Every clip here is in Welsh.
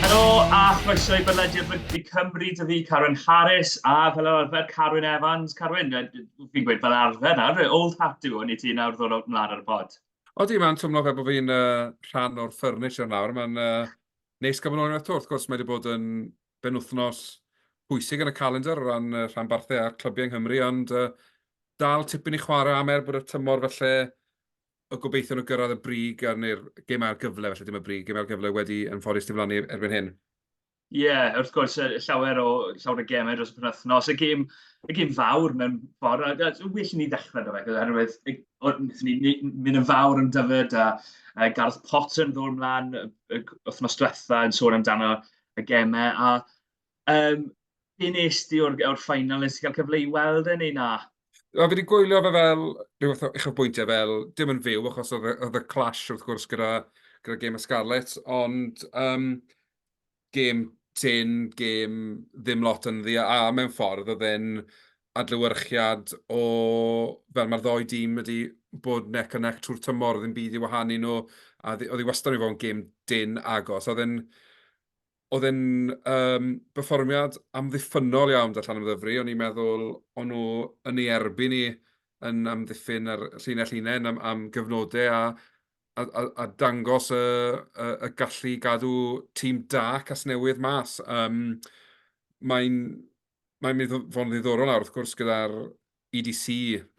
Helo a chroeso i bodlediad Rygbi Cymru, dw i Carwyn Harris a fel arfer Carwyn Evans. Carwyn, fi'n gweud fel arfer nawr, old hat yw hwn i ti nawr ddod o'r mlaen ar y pod. Odi, mae'n twmlo fe bod fi'n uh, rhan o'r ffyrnis yn nawr. Mae'n uh, neis gael bod yn ôl unwaith to. Wrth gwrs, mae wedi bod yn benwythnos pwysig yn y calendr o ran y rhanbarthau a'r clybiau yng Nghymru, ond uh, dal tipyn i chwarae am er bod y tymor felly y gobeithion o gyrraedd y brig a'r neu'r gem a'r gyfle, felly dim y brig, gem a'r gyfle wedi yn ffodus diflannu erbyn hyn. Ie, yeah, wrth gwrs, llawer o, llawer o gemau dros y penwthnos. Y gêm, y gêm fawr mewn ffordd, a, a well i ni ddechrau da fe, oherwydd wnaethon ni mynd yn fawr yn dyfod, a, a Gareth Potter yn ddod ymlaen y, y wythnos diwetha yn sôn amdano y gemau, a um, be nes ti o'r, or ffainal, nes ti cael cyfle i weld e neu na? O, fi wedi gwylio fe fel rhywbeth o eich bwyntiau fel, dim yn fyw, achos oedd y clash wrth gwrs gyda, gyda Game of Scarlet, ond um, game tin, game ddim lot yn ddi, a mewn ffordd oedd e'n adlewyrchiad o fel mae'r ddou dîm wedi bod neck and neck trwy'r tymor, ddim byd i wahanu nhw, a oedd hi wastad wedi bod yn gêm dyn agos. Oedd e'n oedd e'n um, berfformiad amddiffynol iawn da Llan Ymddyfri, o'n i'n meddwl o'n nhw yn ei erbyn ni yn amddiffyn ar llinell unain am, am gyfnodau a, a, a, a dangos y, y, y gallu gadw tîm da Casnewydd mas. Um, Mae'n mae'n mynd i fod yn ddiddorol nawr, wrth gwrs, gyda'r EDC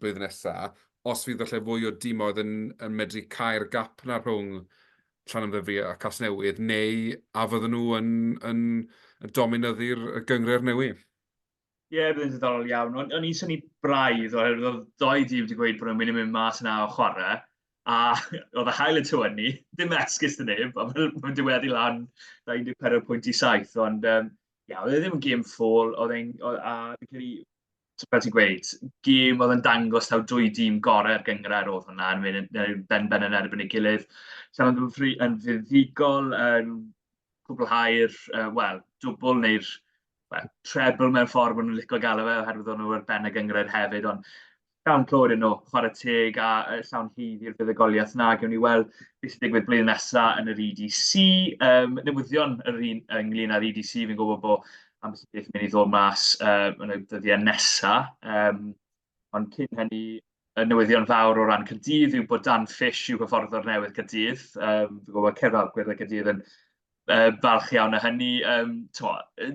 blwyddyn nesaf, os fydd falle fwy o dimoedd yn, yn medru cael gap na rhwng Llanymddyfri a Casnewydd, neu a fydden nhw yn, yn, yn dominyddu'r gyngred newydd? Ie, yeah, byddai'n ddiddorol iawn. O'n, on i'n syni braidd, oherwydd oedd doi dîm wedi gweud bod nhw'n mynd i mynd mas yna o chwarae, a oedd y hael y tyw ni, ddim esgus dyn neb, a mae'n diweddu lan 14 pwynt i saith, ond um, Ie, oedd e ddim yn gêm ffôl, oedd e'n... oedd... a fi'n credu, t- fel ti'n gweud, gêm oedd yn dangos taw dwy dîm gorau'r gynghrair oedd hwnna, yn mynd yn yn benben yn erbyn ei gilydd. Llanymddyfri yn fuddugol yn cwblhau'r, uh, wel, dwbl neu'r well, treble mewn ffordd maen nhw'n licio galw fe, oherwydd o'n nhw ar ben y gynghrair hefyd, ond Iawn, clywed yn ôl, chwarae teg a llawn hydd i'r buddugoliaeth na, gewn ni weld beth sy'n digwydd blwyddyn nesaf yn yr EDC. Um, newyddion yr un ynglyn â'r EDC, fi'n gwybod bod am sy'n beth mynd i ddod mas uh, yn y dyddiau nesaf. Um, ond cyn hynny, y newyddion fawr o ran Cydydd yw bod Dan Fish yw hyfforddwr newydd Cydydd. Um, fi'n gwybod Cerdded Gwyrdd Cydydd yn uh, falch iawn o hynny. Um, to,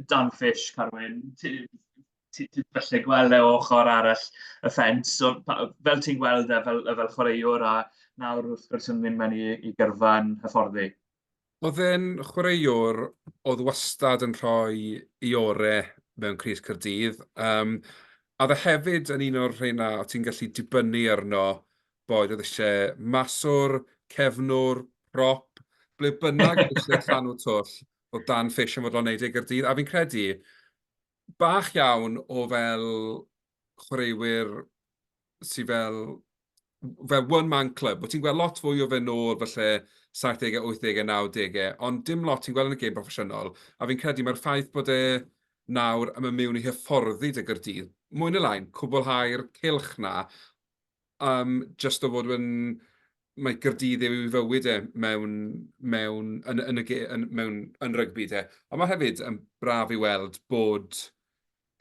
Dan Fish, Carwyn, ti, ti falle gweld e o ochr arall y ffens. So, pa, fel ti'n gweld e fel, fel chwaraewr a nawr wrth gwrs yn mynd mewn i, i gyrfa yn hyfforddi? Oedd e'n chwaraewr oedd wastad yn rhoi i ore mewn Cris Cyrdydd. Um, a dde hefyd yn un o'r rheina o ti'n gallu dibynnu arno boed oedd eisiau maswr, cefnwr, prop, ble bynnag eisiau llanw twll o dan ffeisiau fod o'n neud ei gyrdydd. A fi'n credu, bach iawn o fel chwaraewyr sy fel fel one man club, bo' ti'n gweld lot fwy o fe nôl falle saithdegau, wythdegau, nawdegau, ond dim lot ti'n gweld yn y gêm broffesiynol, a fi'n credu mae'r ffaith bod e nawr yn mynd mewn i hyfforddi 'da Gaerdydd, mwy neu lai'n cwblhau'r cylch 'na am jyst o fod yn... mae Caerdydd yw ei fywyd e mewn... mewn... yn y... yn y ge- yn... mewn... yn rygbi de. Ond mae hefyd yn braf i weld bod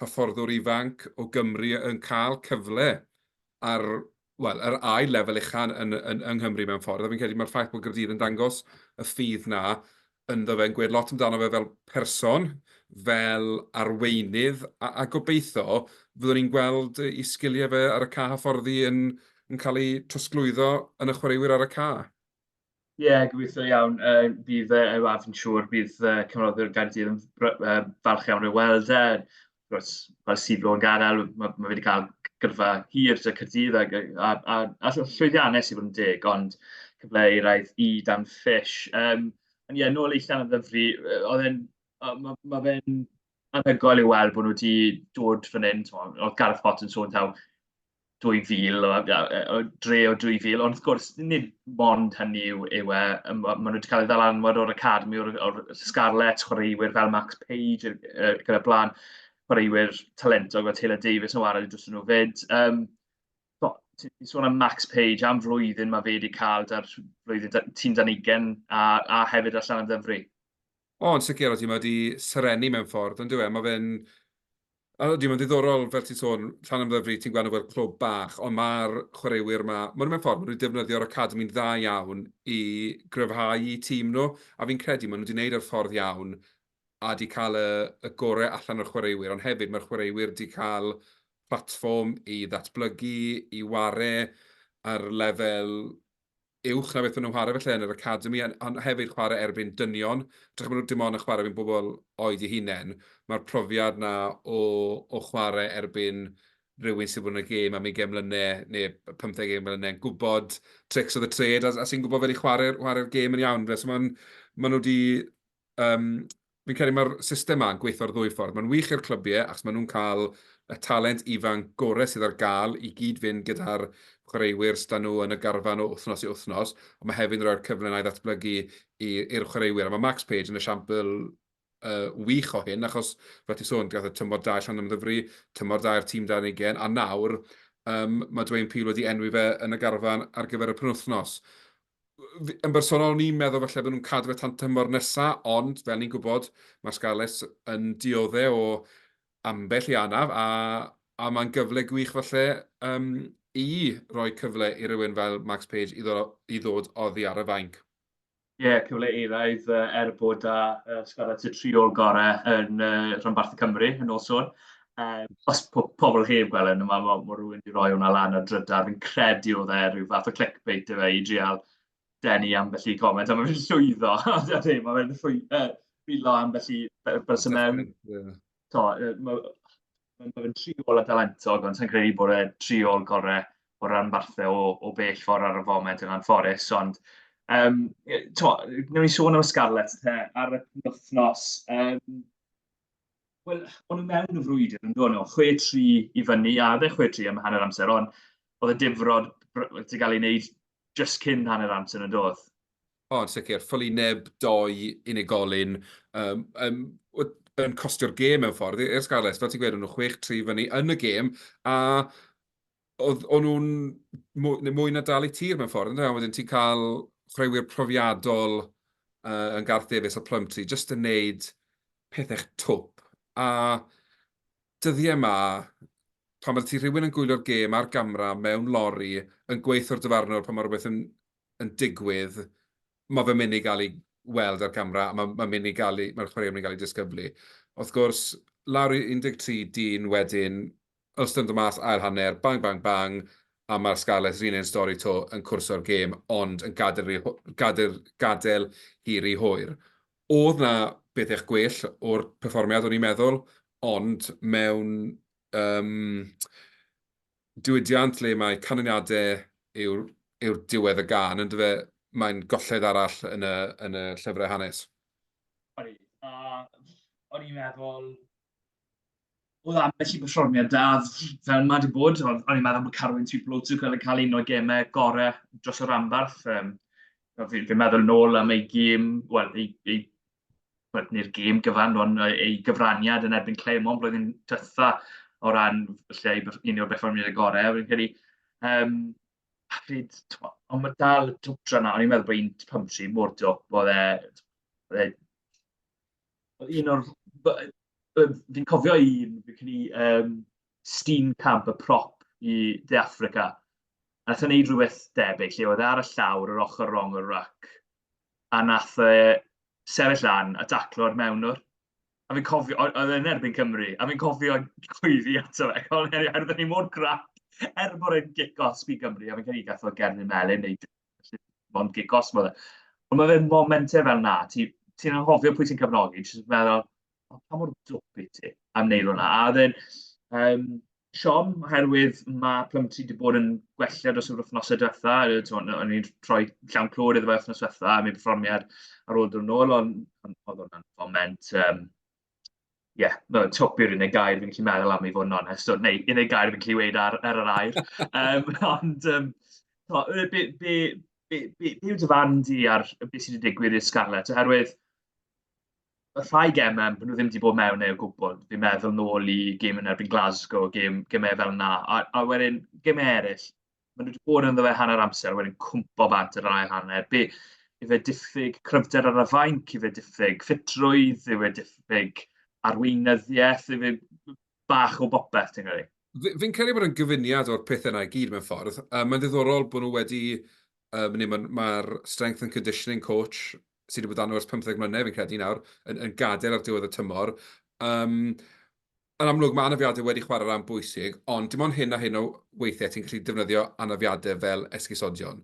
hyfforddwr ifanc o Gymru yn cael cyfle ar, wel, yr ail lefel ucha' yn... yn... yng Nghymru mewn ffordd, a fi'n credu mai'r ffaith bod Caerdydd yn dangos y ffydd 'na ynddo fe, yn gwed lot amdano fe fel person, fel arweinydd, a, a gobeithio fyddwn ni'n gweld i sgiliau fe ar y ca hyfforddi yn, yn cael ei trosglwyddo yn y chwaraewyr ar y ca. Ie, yeah, gobeithio iawn. Uh, bydd uh, a fi'n siŵr bydd uh, cyfnodwyr Gaerdydd yn uh, falch iawn o'i weld e. Achos fel sydd o'n gadael, ma' ma' fe 'di cael gyrfa hir 'da Caerdydd ac yy a a a ll- llwyddiannus i fod yn deg, ond cyfle i wraidd i Dan Fish. Yym, ond ie, nôl i Llanymddyfri, yy oedd e'n yy ma' ma' fe'n anhygoel i weld bod nhw 'di dod fan hyn, timod, oedd Gareth Potts yn sôn taw 2000, o, o dre o 2000, ond wrth gwrs, nid mond hynny yw, yw e, maen nhw wedi cael ei ddalanwad o'r Academi, o'r, or Scarlets, chwaraewyr fel Max Page, uh, gyda blaen, chwaraewyr talentog fel Taylor Davis yn wario dros nhw fyd. Um, ti'n sôn am Max Page am flwyddyn mae fe wedi cael da'r flwyddyn tîm dan ugen a, a hefyd allan am ddyfru. O, yn sicr, odi, mae wedi serennu mewn ffordd, ond yw e, mae fe'n... Odi, mae'n ddiddorol, fel ti'n sôn, llan ymddyfru, ti'n gweld nhw fel clwb bach, ond mae'r chwaraewyr yma, maen nhw mewn ffordd, maen nhw wedi defnyddio'r academi'n dda iawn i gryfhau i tîm nhw, a fi'n credu maen nhw wedi gwneud yr ffordd iawn a wedi cael y, y gorau allan o'r chwaraewyr, ond hefyd mae'r chwaraewyr wedi cael platfform i ddatblygu, i ware ar lefel uwch na beth maen nhw'n chwarae falle yn yr academi, ond hefyd chwarae erbyn dynion. Dych maen nhw dim ond yn chwarae erbyn bobl oed i hunain. Mae'r profiad na o, o chwarae erbyn rhywun sydd wedi bod yn y gêm am 20 mlynedd neu 15 gêm mlynedd yn gwybod tricks of the trade a, a sy'n gwybod fel i chwarae'r chwarae gêm yn iawn. So maen, maen nhw wedi um, fi'n credu mae'r system yma'n gweithio'r ddwy ffordd. Mae'n wych i'r clybiau, achos maen nhw'n cael y talent ifan gorau sydd ar gael i gyd fynd gyda'r chwaraewyr stan nhw yn y garfan o wythnos i wythnos, ond mae hefyd yn rhoi'r cyfle i ddatblygu i'r chwaraewyr. A mae Max Page yn esiampl uh, wych o hyn, achos fe ti sôn, gath y tymor da allan ymddyfru, tymor da i'r tîm dan ei gen, a nawr um, mae Dwayne Peel wedi enwi fe yn y garfan ar gyfer y penwthnos. yn bersonol, o'n i'n meddwl falle bod nhw'n cadw fe tan tymor nesa, ond fel ni'n gwybod, mae Scarlets yn diodde o ambell i anaf, a, a mae'n gyfle gwych falle um, i roi cyfle i rywun fel Max Page i, ddod, i ddod oddi ar y fainc. Ie, yeah, cyfle eraidd er bod â uh, Scarlets y triol gorau yn uh, rhanbarth y Cymru yn ôl sôn. Um, os po pobl heb gweld yn yma, mae ma rhywun wedi rhoi hwnna lan ar drydar. Fi'n credu oedd e rhyw fath o clickbait efe i drial denu am felly comment, a mae fi'n llwyddo. Mae fe'n llwyddo, rhywlo am felly bys y mewn. Mae'n fe tri ôl a dalentog, ond sy'n credu bod e tri ôl gorau o ran barthau o, o bell ffordd ar y foment yn anffodus. Ond, um, to, newn ni sôn am y Scarlets te, ar y penwthnos. Um, Wel, o'n nhw mewn y frwydr yn dod nhw, 6-3 i fyny, a oedd e 6-3 am hanner amser, ond oedd y difrod wedi cael ei wneud just cyn hanner amser yn dod. O, yn sicr. Ffyli neb doi unigolyn um, um, yn costio'r gêm mewn ffordd i'r Scarlets. Fel ti'n gweud, o'n nhw 6-3 fyny yn y gêm, a oedd o'n nhw'n mwy, mwy na dal i tir mewn ffordd, ynddo? Wedyn ti'n cael chwaraewyr profiadol uh, yn Garth Davies a Plumtree, jyst yn neud pethau'ch twp. A dyddiau yma, pan mae ti rhywun yn gwylio'r gêm ar gamra mewn lori, yn gweithio'r dyfarnwr pan mae rhywbeth yn, yn digwydd, mae fe'n mynd i gael ei weld ar gamra, a mae'n ma mynd i gael ei, mae'r chwaraewyr yn mynd i gael ei disgyblu. Wrth gwrs, lawr i 13 dyn wedyn, Os ydyn nhw'n dod mas ail hanner, bang bang bang, a mae'r Scarlets yr un un stori 'to yn cwrso'r gêm ond yn gadael rhy hw- gadael gadael hi rhy hwyr. O'dd 'na bethech gwell o'r perfformiad o'n i'n meddwl, ond mewn yym diwydiant le mae canlyniade yw'r yw'r diwedd y gân yndyw e, mae'n golled arall yn y yn y llyfre hanes. Odi, a o'n i'n meddwl oedd ambell i berfformiad da, fel mae wedi bod, ond o'n i'n meddwl bod Carwyn Tŵp Lwtwc yn cael un o gemau gorau dros y rhanbarth. Um, fi'n fi meddwl nôl am ei gêm, wel, ei, ei well, neu'r gêm gyfan, ond ei gyfraniad yn erbyn Clermont blwyddyn dytha o ran lle un o'r berfformiad y gorau. Fi'n credu, um, pryd, ond mae dal y dwtra na, o'n i'n meddwl bod un pymtri mor dwp, oedd e, oedd e Un o'r... fi'n cofio un, fi'n credu um, Steenkamp, y prop i De Africa. A nath o'n neud rhywbeth debyg, lle oedd e ar y llawr, yr ochr rong o'r rac. A nath e sefyll lan a daclo'r mewnwr. A fi'n cofio, oedd e'n erbyn Cymru, a fi'n cofio gwyfi ato fe, cael yn heri, oherwydd ni mor grac, er bod e'n gic os bydd Gymru, a fi'n cael ei gath o Gerdyn Melin, neu Felly, mae'n gig gosmo dde. Ond mae fe'n momentau fel na, ti'n ti anghofio pwy ti'n cyfnogi, ti'n meddwl, oh, pa mor dwp i ti am wneud hwnna. A oedd e'n um, siom, oherwydd mae Plymty wedi bod yn gwella dros yr wythnosau diwetha. O'n i'n rhoi llawn clod iddo fe wythnos diwetha, a mi perfformiad ar ôl dod yn ôl, ond oedd hwnna'n foment um, ie, no, twp yw'r unig gair fi'n gallu meddwl am i fod yn onest, neu unig gair fi'n gallu weud ar, ar yr air. um, ond, um, to, be, be, be, be, be yw dy fan di ar beth sydd wedi digwydd i'r Scarlett? Oherwydd, y rhai gemau, maen nhw ddim wedi bod mewn eu gwbl. Fi'n meddwl nôl i gym yn erbyn Glasgow, gym, gemau fel yna. A, a wedyn, gemau eraill, maen nhw wedi bod yn ddewe hanner amser, wedyn cwmpo bant yr ail hanner. Be, ife diffyg cryfder ar y fainc, ife diffyg ffitrwydd, ife diffyg arweinyddiaeth, ife bach o bopeth, ti'n credu? Fi'n credu bod yn gyfuniad o'r pethau yna i gyd mewn ffordd. Um, mae'n ddiddorol bod nhw wedi... Um, Mae'r ma strength and conditioning coach sydd wedi bod dan nhw ers 15 mlynedd, fi'n credu nawr, yn, yn gadael ar diwedd y tymor. Um, Yn amlwg, mae anafiadau wedi chwarae rhan bwysig, ond dim ond hyn a hyn o weithiau ti'n gallu defnyddio anafiadau fel esgusodion.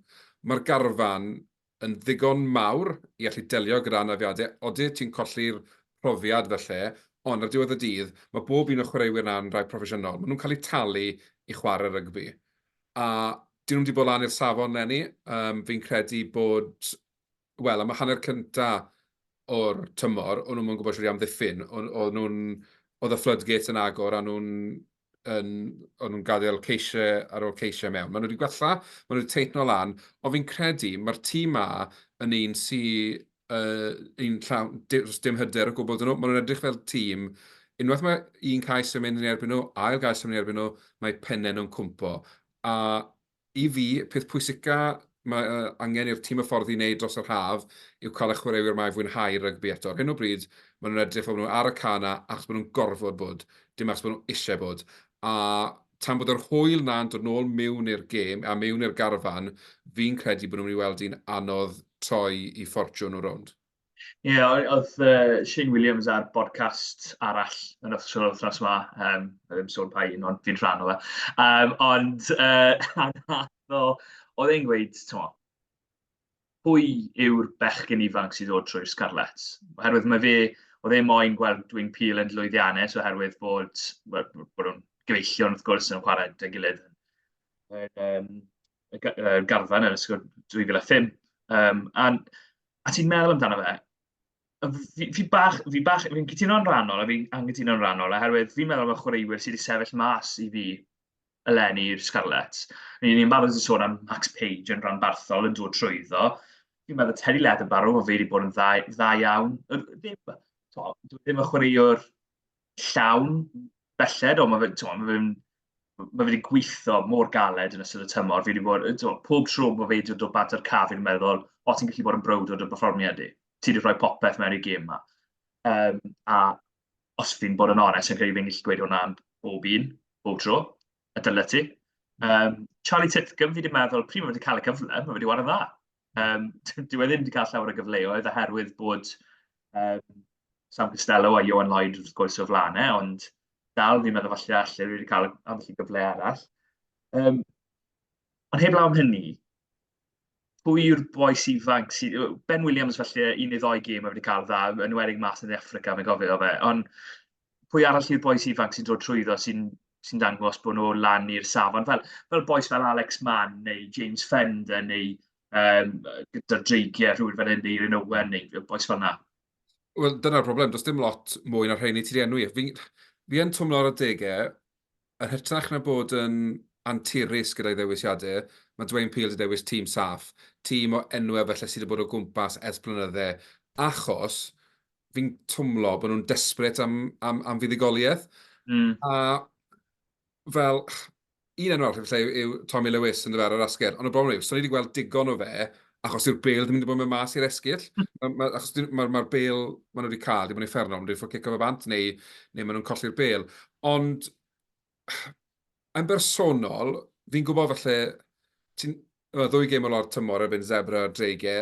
Mae'r garfan yn ddigon mawr i allu delio gyda anafiadau, odyt ti'n colli'r profiad falle, ond ar diwedd y dydd, mae bob un o chwaraewyr na'n rai proffesiynol, maen nhw'n cael eu talu i chwarae rygbi. A dyn nhw'm wedi bod lan i'r safon leni, um, fi'n credu bod wel, am y hanner cynta o'r tymor, o'n nhw'n gwybod siwr i amddiffyn. O'n nhw'n, oedd y floodgates yn agor, a nhw'n yn, o'n nhw'n gadael ceisiau ar ôl ceisiau mewn. Maen nhw wedi gwella, maen nhw wedi teithno lan, ond fi'n credu mae'r tîm ma yn un sy'n uh, un llawn, dim hyder o gwbl dyn nhw. Maen nhw'n edrych fel tîm unwaith mae un cais yn mynd yn erbyn nhw, ail gais yn mynd yn erbyn nhw, mae pennau nhw'n cwmpo. A I fi, y peth pwysica mae angen i'r tîm hyfforddi wneud dros yr haf yw cael y chwaraewyr yma i fwynhau rygbi eto. Ar hyn o bryd, maen nhw'n edrych fel bod nhw ar y cân 'na achos bod nhw'n gorfod bod, dim achos bod nhw eisiau bod. A tan bod yr hwyl 'na'n dod nôl miwn i'r gêm, a miwn i'r garfan, fi'n credu bod nhw'n mynd i weld hi'n anodd troi i ffortiwn nhw rownd. Ie o- odd yy Shane Williams ar bodcast arall yn official wythnos 'ma yym nai ddim sôn pa un ond fi'n rhan o fe yym ond yy nath o o'dd e'n gweud t'mo' pwy yw'r bechgyn ifanc sydd ddod trwy'r Scarlets? Oherwydd ma' fe o'dd e moyn gweld Dwyn Peel yn lwyddiannus oherwydd bod wel bo' nw'n gyfeillion wrth gwrs yn chware 'da'i gilydd yn yym y garfan yn ysgol 2005. Um, a, a ti'n meddwl amdano fe, fi, fi bach, fi bach, fi'n cytuno'n rhannol, a fi'n anghytuno'n rhannol, oherwydd fi'n meddwl bod chwaraewyr sydd wedi sefyll mas i fi eleni i'r Scarlets. Ni'n ni barod i sôn am Max Page yn rhan barthol yn dod trwy iddo. Fi'n meddwl Teddy Leatherbarrow, o fe wedi bod yn dda, dda iawn. Ddim, to, ddim y chwaraewr llawn belled, ond mae fe, ti'n ma fe'n mae wedi gweithio mor galed yn ystod y tymor. Fi wedi bod, to, pob tro bod fe wedi dod o bant ar caf, fi'n meddwl, o ti'n gallu bod yn browd o dy berfformiad i. Ti wedi rhoi popeth mewn i'r gêm yma. Um, a os fi'n bod yn onest, yn credu fi'n gallu gweud hwnna am bob un, bob tro, y dylai ti. Um, Charlie Titcomb, fi wedi meddwl, pryd mae wedi cael y cyfle, mae wedi wario dda. Um, dwi wedi ddim wedi cael llawer o gyfleoedd oherwydd bod um, Sam Costello a Johan Lloyd wrth gwrs o flaen e, ond dal fi'n meddwl falle allu wedi cael ambell gyfle arall. Um, ond heb lawn hynny, pwy yw'r boes ifanc sydd... Ben Williams falle un neu ddoi gêm wedi cael dda, yn wedig mas yn Africa, mae'n gofio fe. Ond pwy arall yw'r boes ifanc sy'n dod trwyddo sy'n sy dangos bod nhw lan i'r safon. Fel, fel boes fel Alex Mann neu James Fender neu um, gyda dreigiau rhywun fel hyn neu Owen neu boes fel yna. Wel, dyna'r broblem. Does dim lot mwy na rheini ti'n enwi. Fi, fi yn twmlo ar y degau, yn hytrach na bod yn anturus gyda'i ddewisiadau, mae Dwayne Peel wedi dewis tîm saff, tîm o enwau felly sydd wedi bod o gwmpas ers blynydde, achos fi'n twmlo bod nhw'n desperate am, am, am fuddugoliaeth. Mm. A fel, un enw arall efallai yw Tommy Lewis yn dyfer ar asgell, ond y broblem yw, so ni wedi gweld digon o fe, achos yw'r bel ddim wedi bod mewn mas i'r esgyll, hmm. ma, achos mae'r ma, ma bel maen nhw wedi cael, ddim yn ei fferno, maen nhw wedi ffwrdd cico fe bant, neu, neu maen nhw'n colli'r bel. Ond, yn bersonol, fi'n gwybod falle, ti'n ddwy gêm o lawr tymor erbyn Zebra a Drege,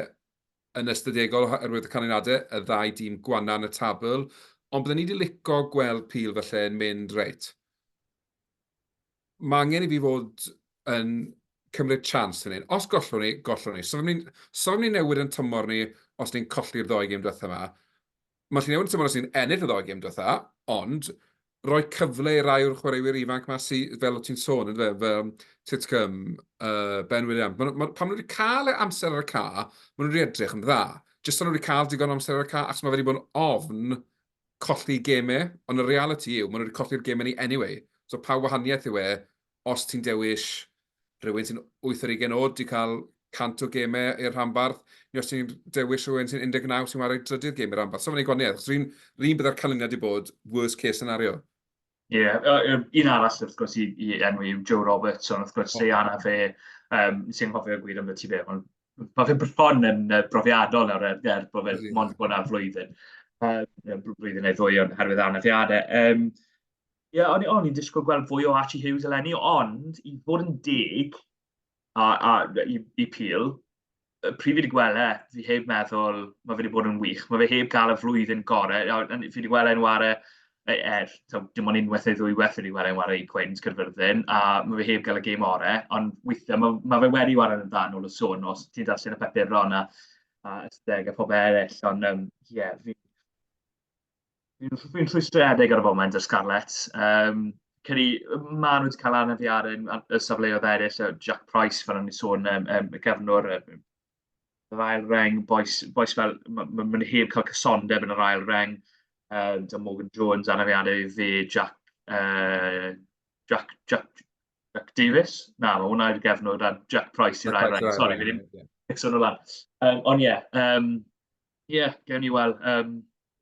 yn ystadegol oherwydd y canlyniadau y ddau dîm gwana yn y tabl, ond bydden ni 'di lico gweld pil falle yn mynd reit. Mae angen i fi fod yn cymryd chance yn hyn. Os gollwn ni, gollwn ni. So fe ni'n so ni newid yn tymor ni os ni'n colli'r ddoi gêm diwethaf yma. Mae Llinell wedi tymor os ni'n ennill y ddoi gêm diwetha, ond roi cyfle i rai o'r chwaraewyr ifanc ma sy, fel o ti'n sôn, yndyfe, fel Titcomb, uh, Ben Williams, ma, ma, pan nhw wedi cael e amser ar y ca, maen nhw wedi edrych yn dda. Jyst nhw wedi cael digon amser ar y ca, ac mae wedi bod yn ofn colli gemau, ond y reality yw, maen nhw wedi colli'r gemau ni anyway. So pa wahaniaeth yw e os ti'n dewis rhywun sy'n 8 ar 20 oed, di cael 100 o gemau i'r rhanbarth, neu os ti'n dewis rhywun sy'n 19 sy'n wario drydydd gem i'r rhanbarth. So mae'n ei gwaniad, achos rhywun rhywun byddai'r canlyniad wedi bod worst case scenario. Ie, yeah, uh, un arall wrth gwrs i, i enw yw Joe Roberts, ond wrth gwrs, oh. Diana fe, um, sy'n hofio gwir am y ti fe, ond mae fe bron yn uh, brofiadol nawr er, er bod fe'n mond bod yna flwyddyn, uh, blwyddyn neu ddwy o'n herwydd anafiadau. Um, Ie, yeah, o'n, o'n i'n disgwyl gweld fwy o Archie Hughes eleni, ond i fod yn deg a, a i, i pil, pryd fi wedi gweld e, fi heb meddwl, mae fe wedi bod yn wych. Mae fe heb gael y flwyddyn gorau. Fi wedi gweld e'n ware, e, er, so, dim ond unwaith neu ddwy waith wedi gweld e'n ware i Queens Cyrfyrddin, a mae fe heb gael y gêm orau, ond weithiau mae, mae fe wedi ware yn dan ôl y sôn os ti'n darllen y papur ron a, a ysteg a phob eraill, ond ie, um, yeah, fi, Fi'n rhwystredig ar y foment y Scarlets. Um, Ceri, ma nhw wedi cael anafiad yn y safleoedd eraill, so Jack Price, fel o'n i'n sôn, um, um, y gefnwr, um, yr ail reng, boes, boes fel, mae'n ma, ma heb cael cysondeb yn yr ail reng, um, da Morgan Jones, anafiadau i fe, Jack, uh, Jack, Jack, Jack Davis, na, mae hwnna i'r gefnwr, a Jack Price i'r ail reng, sori, fi ddim, yeah. sôn o lan. Um, ond ie, yeah, um, Ie, gewn ni weld. Yym,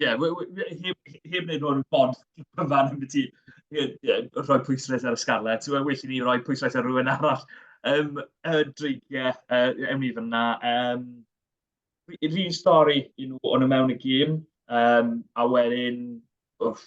ie, we- we- we- heb heb wneud hwn bod cyfan ambiti yy yy rhoi pwyslais ar y Scarlets, we- well i ni roi pwyslais ar rywun arall. Yym, y dreigiau, yy, ewn ni fan'na. Yym, yr un stori i nhw, o'n nhw mewn y gêm, yym, a wedyn, wff,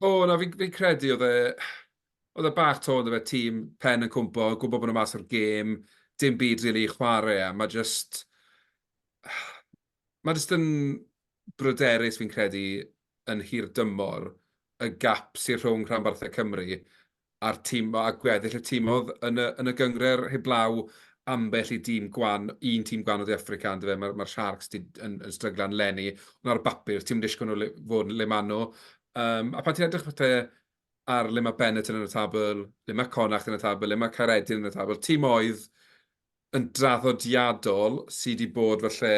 O na fi'n fi'n credu oedd e oedd e bach 'to on'd yfe tîm pen yn cwmpo, gwbo bo' nhw mas o'r gêm, dim byd rili i chware a ma' jyst ma' jyst yn bryderus fi'n credu yn hirdymor y gap sy rhwng rhanbarthau Cymru a'r tîm a gweddill y tîm oedd yn y yn y gyngred heblaw ambell i dîm gwan, un tîm gwan o De Affrica yndyfe, mae'r ma Sharks di, yn, yn stryglan lenni, ond ar y bapur, ti'n disgwyl nhw le, fod yn le maen nhw. Um, a pan ti'n edrych falle ar le mae Bennett yn y tabl, le mae Connacht yn y tabl, le mae Caeredin yn y tabl, tîm oedd yn draddodiadol sydd wedi bod falle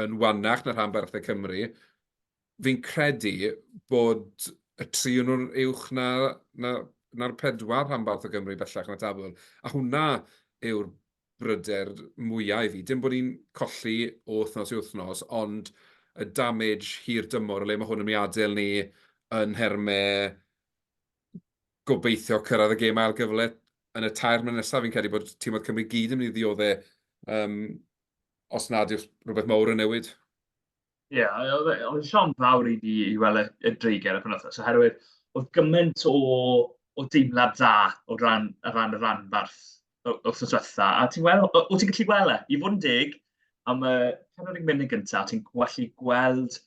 yn wannach na rhan barthau Cymru, fi'n credu bod y tri yn nhw'n uwch na, na, na'r pedwar rhanbarth o Gymru bellach na tabl. A hwnna yw'r bryder mwyaf i fi. Dim bod ni'n colli o wythnos i wythnos, ond y damage hir dymor, o le mae hwn yn mynd i adael ni yn nhermau gobeithio cyrraedd y gêm ail gyfle yn y tair mlynedd nesaf, fi'n credu bod tîm oedd Cymru gyd yn mynd i ddioddau um, os nad yw'r rhywbeth mawr yn newid. Ie, oedd e, oedd siom fawr i ni i weld y, y dreigen y penwthnos, oherwydd oedd gymaint o, o deimlad dda o ran, o ran y ranbarth wrth y swetha. A ti'n gweld, o, o ti'n gallu gweld e, i fod yn dig, am y penod yn mynd gyntaf, ti'n gallu gweld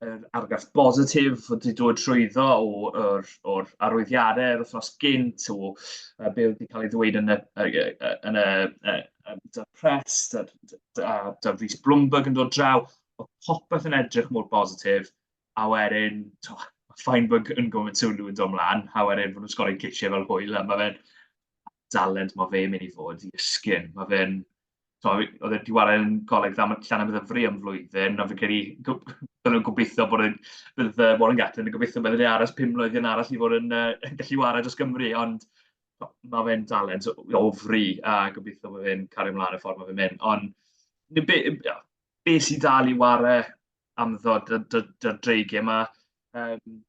yr argraff bositif oedd wedi dod trwyddo o'r, or, or arwyddiadau yr wythnos gynt, o uh, be oedd wedi cael ei ddweud yn y, yn y, yn y, um, da Press, da, da, da Rhys Bloomberg yn dod draw, oedd popeth yn edrych mor bositif, a wedyn, to, Feinberg yn gofyn sylw yn dod mlaen, a wedyn fod nhw'n sgorau cisiau fel hwyl, a mae fe'n dalent mae fe'n mynd i fod i ysgyn. Mae fe'n, oedd e'n diwaren yn goleg dda, mae llan am ddyfru am flwyddyn, a fi'n credu, byddwn nhw'n gobeithio bod yn, bydd Warren Gatlin yn gobeithio bod yn aros pum mlynedd yn arall i fod yn uh, gallu wared dros Gymru, ond mae fe'n dalent o fri, a gobeithio bod fe'n cario ymlaen y ffordd mae fe'n mynd. Ond be, be, be sy'n dal i ware am ddod y dreigiau yma, um,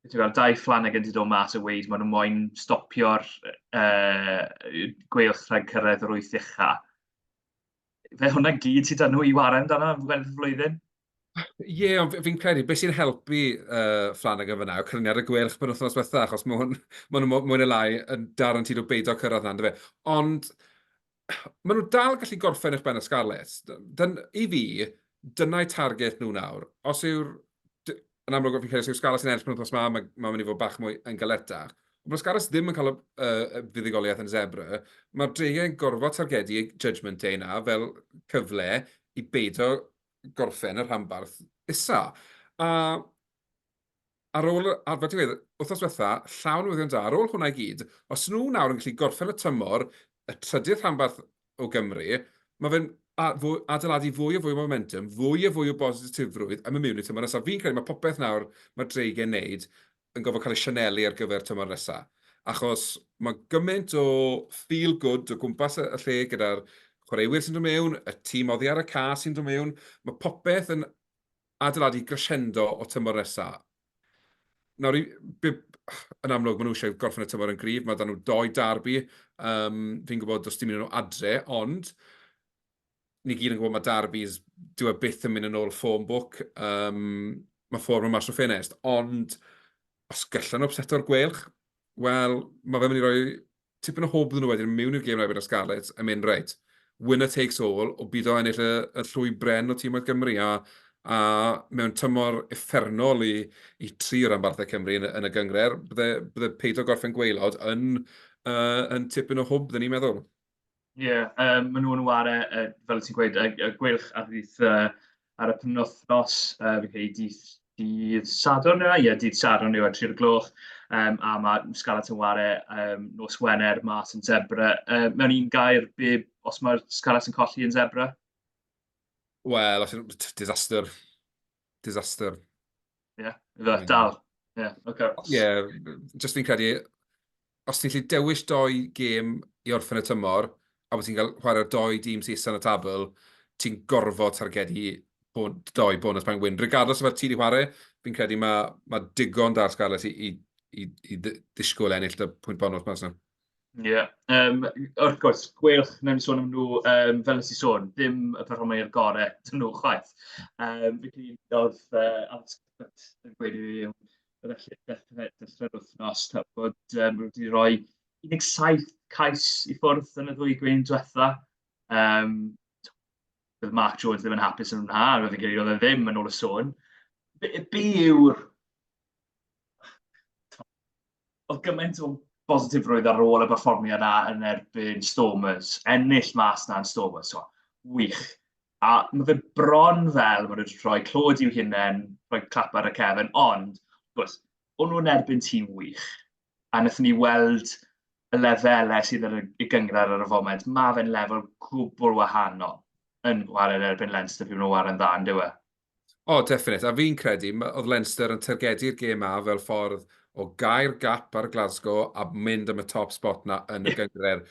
ti'n gweld, dau fflan ag yn dod mas o weid, maen nhw moyn stopio'r uh, gweilch rhag cyrraedd yr wyth uchaf. Fe hwnna gyd sydd dan nhw i ware amdano am flwyddyn. Ie, ond fi- fi'n credu beth sy'n helpu uh, Flanagan fyna yw cyfraniad y gweilch pen wythnos bethau, achos mae hwn, ma nhw mwy neu lai yn dar yn tyd o beidio cyrraedd na, fe. Ond maen nhw dal gallu gorffen eich ben y Scarlets. Dyn, I fi, dyna'i target nhw nawr. Os yw'r... Yn amlwg, fi'n credu, os yw'r Scarlets yn ennill pen wythnos yma, mae'n ma mynd i fod bach mwy yn galetach. Ond mae'r Scarlets ddim yn cael y uh, fuddugoliaeth yn zebra. Mae'r dreigiau'n gorfod targedu Judgment Day na fel cyfle i beidio gorffen y rhanbarth isa. A ar ôl, ar fel ti'n gweud, wythnos diwetha, llawn newyddion da, ar ôl hwnna i gyd, os nhw nawr yn gallu gorffen y tymor, y trydydd rhanbarth o Gymru, mae fe'n adeiladu fwy o fwy o momentum, fwy o fwy o bositifrwydd am y mewn i tymor nesaf. Fi'n credu mae popeth nawr mae Dreigen wneud yn gorfod cael ei sianelu ar gyfer tymor nesa, achos mae gymaint o feel good o gwmpas y lle gyda'r chwaraewyr sy'n dod mewn, y tîm oddi ar y ca sy'n dod mewn, mae popeth yn adeiladu crescendo o tymor nesa. Nawr, yn amlwg, maen nhw eisiau gorffen y tymor yn gryf, mae dan nhw doi darbi, um, fi'n gwybod does dim un nhw adre, ond ni gyd yn gwybod mae Derby's, dyw e byth yn mynd yn ôl ffôn bwc, um, mae ffôn yn mas o ffenest, ond os gallan nhw upseto'r gwelch, wel, mae fe'n mynd i roi tipyn o hwb nhw wedyn mewn i'r gêm rhaid y Scarlets yn mynd reit. Winner takes all, o byd o ennill y, y llwy bren o tîm oedd Gymru, a, a mewn tymor effernol i, i tri o ranbarthau Cymru yn, yn y gyngred, bydde, bydde peidio gorffen gweilod yn, uh, yn tipyn o hwb, dyn ni'n meddwl. Ie, yeah, um, maen nhw'n ware, uh, fel ti'n gweud, y, y gwylch ar ddydd uh, ar y penwthnos, uh, fi'n credu dydd, dydd Sadwrn yna, ie, dydd Sadwrn yw ar 3 gloch, um, a mae Scarlett yn ware um, nos Wener mas yn Zebra. Uh, mewn un gair, be, os mae Scarlett yn colli yn Zebra? Wel, os yw'n disaster disaster. Ie, yeah, fe, dal. Ie, yeah, oce. Okay. Ie, yeah, just fi'n credu, os ti'n lli dewis doi gêm i orffen y tymor, a bod ti'n cael chwarae doi dîm sy'n isan y tabl, ti'n gorfod targedu bon, doi bonus pan wyn. Regardless o fe ti wedi chwarae, fi'n credu mae ma digon da'r Scarlets i, i, i, i ddisgwyl ennill y pwynt bonus mas yna. Ie yym wrth gwrs gweilch, wnawn ni sôn am nhw yym fel wnes i sôn, dim y perfformwyr gorau ydyn nhw chwaith. Yym felly oedd yy Alex Cuthbert yn gweud i fi yym bydde lle dechrau'r dechrau'r wythnos ta bod yym nhw wedi rhoi 17 cais i ffwrdd yn y ddwy gwyn diwetha. Yym bydd Mark Jones ddim yn hapus yn hwnna, a fi'n credu oedd e ddim yn ôl y sôn. Be, be yw'r oedd gymaint o bositifrwydd ar ôl y performiad na yn erbyn Stormers, ennill mas na yn Stormers, so, wych. A mae fe bron fel, mae wedi rhoi clod i'w hunain, rhoi clap ar y cefn, ond, gwrs, o'n nhw'n erbyn tîm wych. A wnaethon ni weld y lefelau sydd yn y gyngrair ar y foment, mae fe'n lefel gwbl wahanol yn chwarae yn erbyn Leinster pryd maen nhw'n chwarae'n dda, yn dywe? O, definite. A fi'n credu, oedd Leinster yn targedu'r gêm ma fel ffordd o gair gap ar Glasgow a mynd am y top spot na yn y gyngred.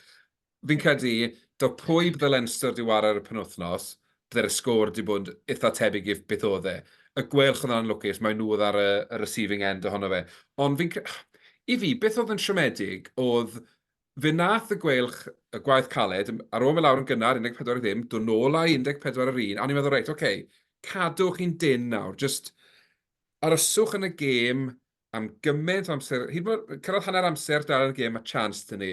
Fi'n credu, do pwy bydde Leinster di war ar y penwthnos, bydde'r sgôr di bod eitha tebyg i beth oedd e. Y gwelch oedd yn lwcus, mae nhw oedd ar y, y receiving end ohono fe. Ond fi'n credu, i fi, beth oedd yn siomedig oedd Fe wnaeth y Gweilch y gwaith caled, ar ôl mynd lawr yn gynnar 14 i ddim, dod nôl â 14 ar yr un, a o'n i'n meddwl, reit, ok, cadwch chi'n dynn nawr, jyst aroswch yn y gêm am gymaint o amser, hyd yn oed cyrraedd hanner amser dal yn y gêm, mae chance dyn ni.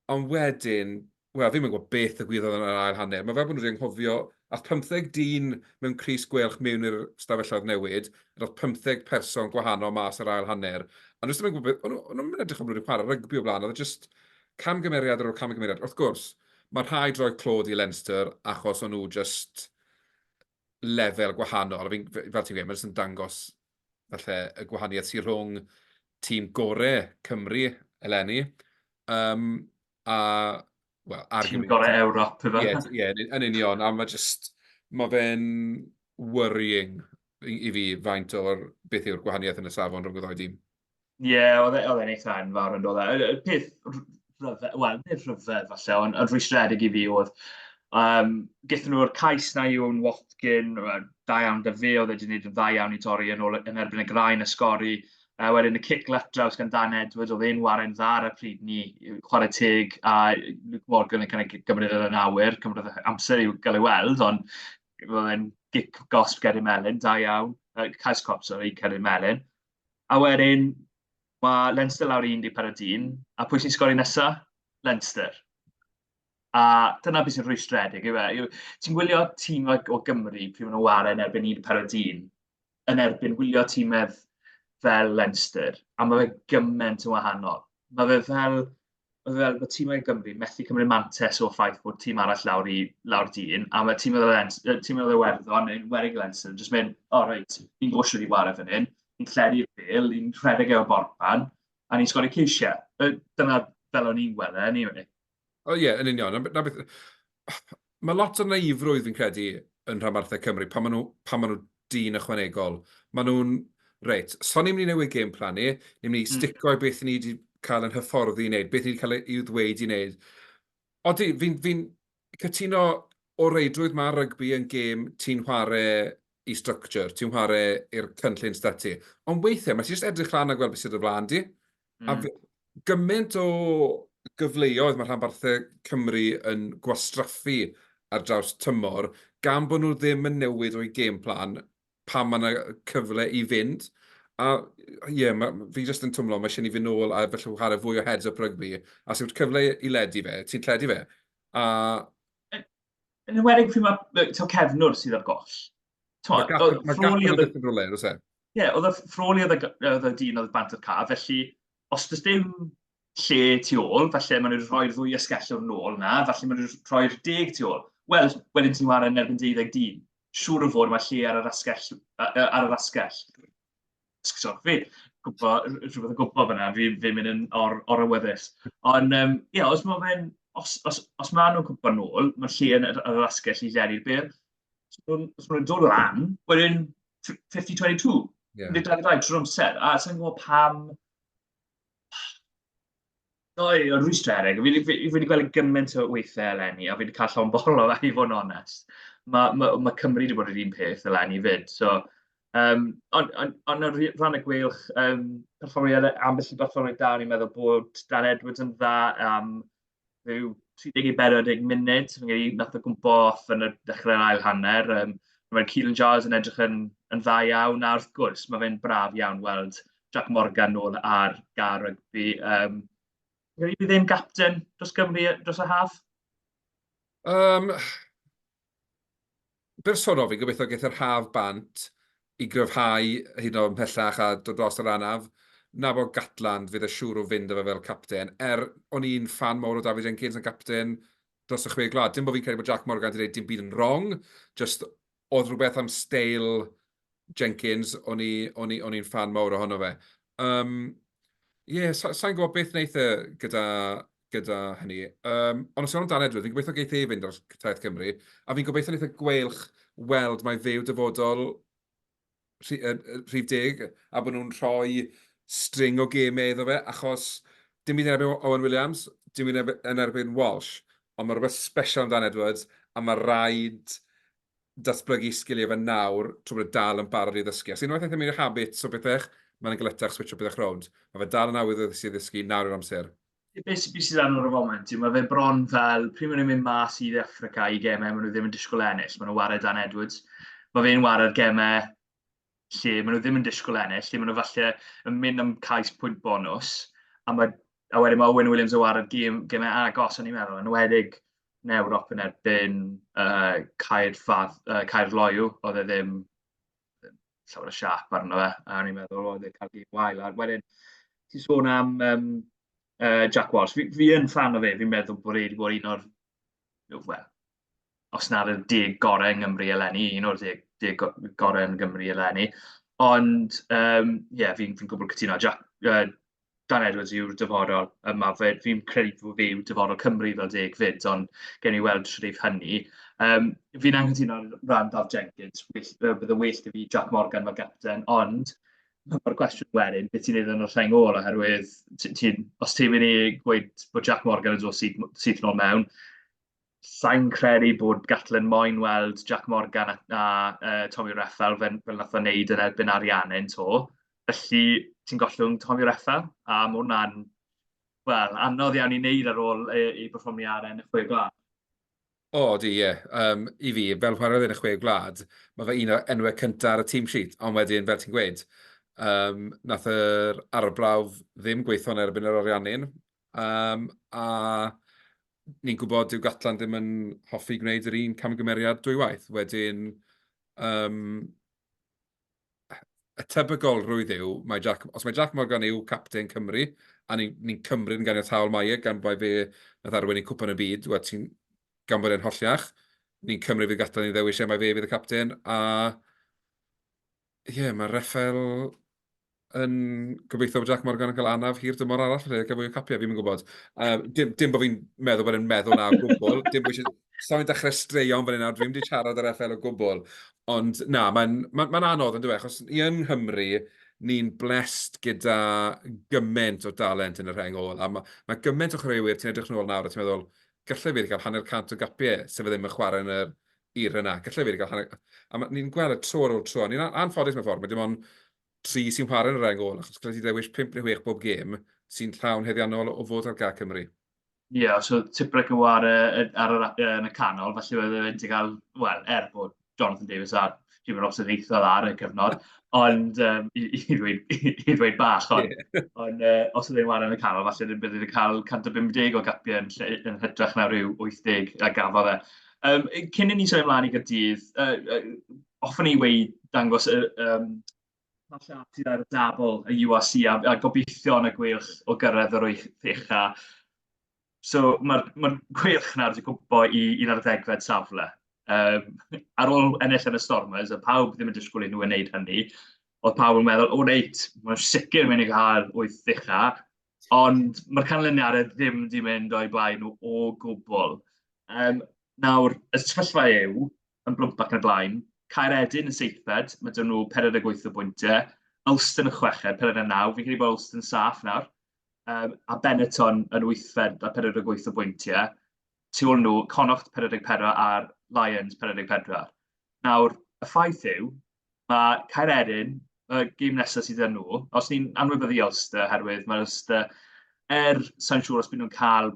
Ond wedyn, wel, fi'm yn gwybod beth y gwyddodd yn yr ail hanner. Mae fel bod nhw wedi anghofio, ath 15 dyn mewn Cris Gweilch mewn i'r stafelloedd newid, a doedd pymtheg person gwahanol mas yr ail hanner, a nhw jyst ddim yn gwybod beth, o'n nhw- o'n nhw'm yn edrych am nhw wedi chwarae rygbi o blaen, oedd e jyst camgymeriad ar ôl camgymeriad. Wrth gwrs, mae rhai droi clod i Leinster achos o'n nhw jyst lefel gwahanol. Fi'n- f- fel ti'n gweud, mae jyst yn dangos falle y gwahaniaeth sydd rhwng tîm gore Cymru eleni, um, a, wel, argumentative. Tîm gorau Ewrop, efe? Ie, yeah, yeah, yn, yn union, a mae just, mae fe'n worrying i fi faint o'r beth yw'r gwahaniaeth yn y safon rhwng y ddau dîm. Ie, yeah, oedd e, e'n eitha enfawr yn dod. E. Y peth rhyfedd, wel, nid rhyfedd falle, ond yn rhwystredig i fi oedd, um, gyda nhw'r cais na i o'n Watkin, da iawn da fe, oedd e wedi gwneud yn dda iawn i torri yn, ôl, yn erbyn y grain y sgori, A wedyn y cic left draws gan Dan Edwards, oedd e'n waren dda ar y pryd ni, chwarae teg, a Luke Morgan yn kind of gymryd yn awyr, cymryd amser i'w gael ei weld, ond oedd e'n gic gosb Ceri Melin, da iawn, uh, cais cop, sorry, Ceri Melin. A wedyn, mae Leinster lawr 14 dyn, a pwy sy'n sgori nesa? Leinster. A dyna beth sy'n rhwystredig, yw e? Ti'n gwylio tîm o Gymru pryd maen nhw'n waren erbyn 14 dyn, yn erbyn wylio tîmedd fel Leinster, a mae fe gymaint yn wahanol. Mae fe fel, mae fe fel bod tîmau Gymru methu cymryd mantes o'r ffaith bod tîm arall lawr i lawr dyn, a mae tîm oedd y tîm oedd y werddon yn werig Leinster, jyst mynd, o oh, reit, ni'n gwybod sydd wedi wario fan hyn, ni'n lledu'r bil, ni'n rhedeg efo'r borpan, a ni'n sgori ceisiau. Dyna fel o'n i'n gweld e, anyway. O ie, yn union. Na, na beth... Mae lot o naifrwydd fi'n credu yn rhanbarthau Cymru, pan maen nhw, pan maen nhw dyn ychwanegol. Maen nhw'n, reit, so ni'n mynd i newid game plan ni, ni'n mynd i stico i beth ni wedi cael yn hyfforddi i wneud, beth ni wedi cael ei ddweud i wneud. Odi, fi'n fi, fi cytuno o reidrwydd mae rygbi yn gêm ti'n chwarae i structure, ti'n chwarae i'r cynllun stati. Ond weithiau, mae ti jyst edrych lan a gweld beth sydd y flaen di, Mm. A gymaint o gyfleoedd mae rhanbarthau Cymru yn gwastraffu ar draws tymor, gan bod nhw ddim yn newid o'i game plan pa mae yna cyfle i fynd. A ie, yeah, ma, fi jyst yn twmlo, mae eisiau ni fynd nôl a felly chwarae fwy o heads-up rygbi. A sy'n cyfle i ledu fe, ti'n lledu fe. A... Yn ymwedig pryd mae cefnwr sydd ar goll. Mae gap yn dipyn rhywle, oes e? Ie, oedd y ffroli oedd y dyn oedd bant o'r car, felly os does dim lle tu ôl, falle maen nhw'n rhoi'r ddwy ysgellwr nôl na, falle maen nhw'n rhoi'r deg tu ôl. Wel, wedyn ti'n wario yn erbyn 20 dyn. Siŵr o fod mae lle ar yr asgell. Ar yr asgell. Sori, fi, gwybod, rhywbeth o gwybod fyna, fi, fi'n mynd yn or, or awyddus. Ond, um, ie, yeah, os mae fe'n, os, os, os mae nhw'n gwybod nôl, mae'r lle yn yr asgell i lledu'r byr. Os maen nhw'n dod lan, wedyn 50-22, yeah. nid 22 trwy'r amser, a sy'n gwybod pam O, y rhwystrau eraill. Fi fi fi wedi gweld e gymaint o weithiau eleni, a fi wedi cael llond bol o fe i fod yn onest. Mae ma', ma' Cymru wedi bod yr un peth eleni 'fyd, so... Yym, ond ond ond ar r- ran y gweilch, yym, perfformiad e- ambell i berfformiad da, o'n i'n meddwl bod Dan Edwards yn dda, yym... rhyw 30 i 40 munud, fi'n gwneud i nath o gwmpo off yn y dechrau'r ail hanner. Um, Mae'r Keelan Giles yn edrych yn, yn dda iawn, a wrth gwrs, mae fe'n braf iawn weld Jack Morgan nôl ar gar rygbi. Um, Rydw i ddim gapten dros Gymru dros y haf? Um, bersonol, fi'n gobeithio geith yr haf bant i gryfhau hyd yn oed ymhellach a dod dros yr anaf. Na bod Gatland, fydd e siŵr o fynd â fe fel capten. Er, o'n i'n ffan mawr o David Jenkins yn capten dros y Chwe Gwlad. Dim bod fi'n credu bod Jac Morgan wedi gwneud dim byd yn wrong, jyst oedd rhywbeth am steil Jenkins, o'n i'n ffan mawr ohono fe. Um, Ie, yeah, sa'n gwybod beth wneith e gyda gyda hynny. Um, ond os yw'n amdano Edward, fi'n gobeithio geith ei fynd ar Taith Cymru, a fi'n gobeithio neitha gweilch weld mae fe'w dyfodol rhif deg, a bod nhw'n rhoi string o gemau iddo fe, achos dim byd yn erbyn Owen Williams, dim byd yn erbyn Walsh, ond mae rhywbeth special amdano Edwards, a mae rhaid datblygu sgiliau fe nawr, trwy bod y e dal yn barod i ddysgu. Os unwaith eithaf mynd i'r habits o bethau, mae'n gletach switch o bethau rownd. Mae fe dal yn awydd o ddysgu, nawr yw'r amser. beth sydd sydd ar y foment, mae fe bron fel, pryd maen nhw'n mynd mas i Africa i gemau, maen nhw ddim yn disgwyl ennill, maen nhw'n wario Dan Edwards. Mae fe'n wario'r gemau lle maen nhw ddim yn disgwyl ennill, lle maen nhw falle yn mynd am cais pwynt bonus, a, mae, a wedyn mae Owen Williams yn wario'r gem, gemau agos, o'n i'n meddwl, yn wedig yn Ewrop yn erbyn uh, Caer, Fad, uh, Caer Loiw, oedd e ddim llawer o siap arno fe, a o'n i'n meddwl, oedd e'n cael gig wael. A wedyn, ti'n sôn am um, uh, Jack Walsh. Fi, fi yn fan o fe, fi'n meddwl bod e wedi bod un o'r, well, os nad y deg gorau yng Nghymru eleni, un o'r deg, deg gorau yn Gymru eleni. Ond, ie, um, yeah, fi'n fi gwybod cytuno. Jack, uh, Dan Edwards yw'r dyfodol yma. Fe, fi'n credu bod fe yw dyfodol Cymru fel deg fyd, ond gen i weld shrif hynny. Um, fi'n anghytuno ran Daf Jenkins, bydd y well i fi Jack Morgan fel gapten, ond mae'r cwestiwn wedyn, beth ti'n ei ddyn o'r rhain ôl, oherwydd ti, os ti'n mynd i gweud bod Jack Morgan yn dod syth, syth nôl mewn, Sain credu bod Gatlin moyn weld Jac Morgan a, a uh, Tommy Reffel fel, fel nath o'n neud yn erbyn Arianne'n to. Felly, ti'n gollwng Tommy Reffel, a mae hwnna'n, wel, anodd iawn i wneud ar ôl ei, ei berfformio ar enn y chwe gwlad. O, di, ie. Yeah. Um, I fi, fel chwaraewyr yn y chwe gwlad, mae fe un o'r enwau cyntaf ar y team sheet, ond wedyn, fel ti'n gweud, um, nath yr arbrawf ddim gweithio'n erbyn yr Ariannin, Yym a ni'n gwybod dyw Gatland ddim yn hoffi gwneud yr un camgymeriad dwywaith. Wedyn yym y tebygolrwydd yw mae Jac... os mae Jac Morgan yw capten Cymru a ni ni'n cymryd yn ganiataol mae e gan mai fe wnaeth arwain i Cwpan y Byd wel ti'n... gan bod e'n holliach ni'n cymryd fydd Gatland yn ei ddewis e mai fe fydd y capten a Ie, mae Rafael yn gobeithio bod Jac Morgan yn cael anaf hir dymor arall lle gael fwy o capiau, fi'n mynd gwybod. Um, dim, dim bod fi'n meddwl bod e'n meddwl na o gwbl, dim bod eisiau... Sa'n dechrau straeon fan hyn nawr, dwi wedi siarad ar FL o gwbl. Ond na, mae'n ma, ma anodd yn dweud, achos i yng Nghymru, ni'n blessed gyda gymaint o dalent yn y rheng ôl. A mae ma gymaint o chwaraewyr, ti'n edrych yn ôl nawr a ti'n meddwl, gallai fi wedi cael hanner cant o gapiau, sef e ddim yn chwarae yn y Era 'na. Gallai wedi cael hanner... A ma- ni'n gweld y tro ar ôl tro, a ni'n an- anffodus mewn ffordd, mae dim ond tri sy'n chwarae yn y rheng ôl, achos gallai ti ddewis pump neu chwech bob gêm sy'n llawn heddiannol o fod ar gad Cymru. Ie, os oedd Tipuric yn chwarae yn, ar yr a- yn y canol, falle bydde fe wedi cael, wel, er bod Jonathan Davies a ddim yn lot o ddeithio ar y cyfnod, ond um, i, i, ddweud, i, i ddweud bach, ond, yeah. on, uh, os ydyn nhw'n yn y canol, falle ddim bydd yn cael 150 o gapiau yn, lle, yn hytrach na rhyw 80 a gafodd e. Um, cyn i ni sôn ymlaen i gydydd, uh, uh, ofyn i wei dangos y um, sydd ar y dabl y UAC a, a gobeithio yn y gweilch o gyrraedd yr oeich a So mae'r mae'r gweilch 'na wedi gwmpo i i'r ar ddegfed safle. Yy ar ôl ennill yn y Stormers a pawb ddim yn disgwyl i nhw wneud hynny, oedd pawb yn meddwl, o reit, mae'n sicr mynd i gael wyth ddicha, ond mae'r canlyniadau ddim wedi mynd o'i blaen nhw o gwbl. Um, nawr, y sefyllfa yw, yn blwmp ac yn y blaen, Caeredin yn seithfed, mae dyn nhw 48 o bwyntiau, Ulster yn chweched, 49, fi'n credu bod Ulster yn saff nawr, um, a Benetton yn wythfed a 48 o bwyntiau. Tu ôl nhw, Connacht 44 a'r Lions 44. Nawr, y ffaith yw, mae Caer Erin, y gym nesaf sydd â nhw, os ni'n anwybyddu Ulster, herwydd mae Ulster, er sa'n siŵr os byd nhw'n cael,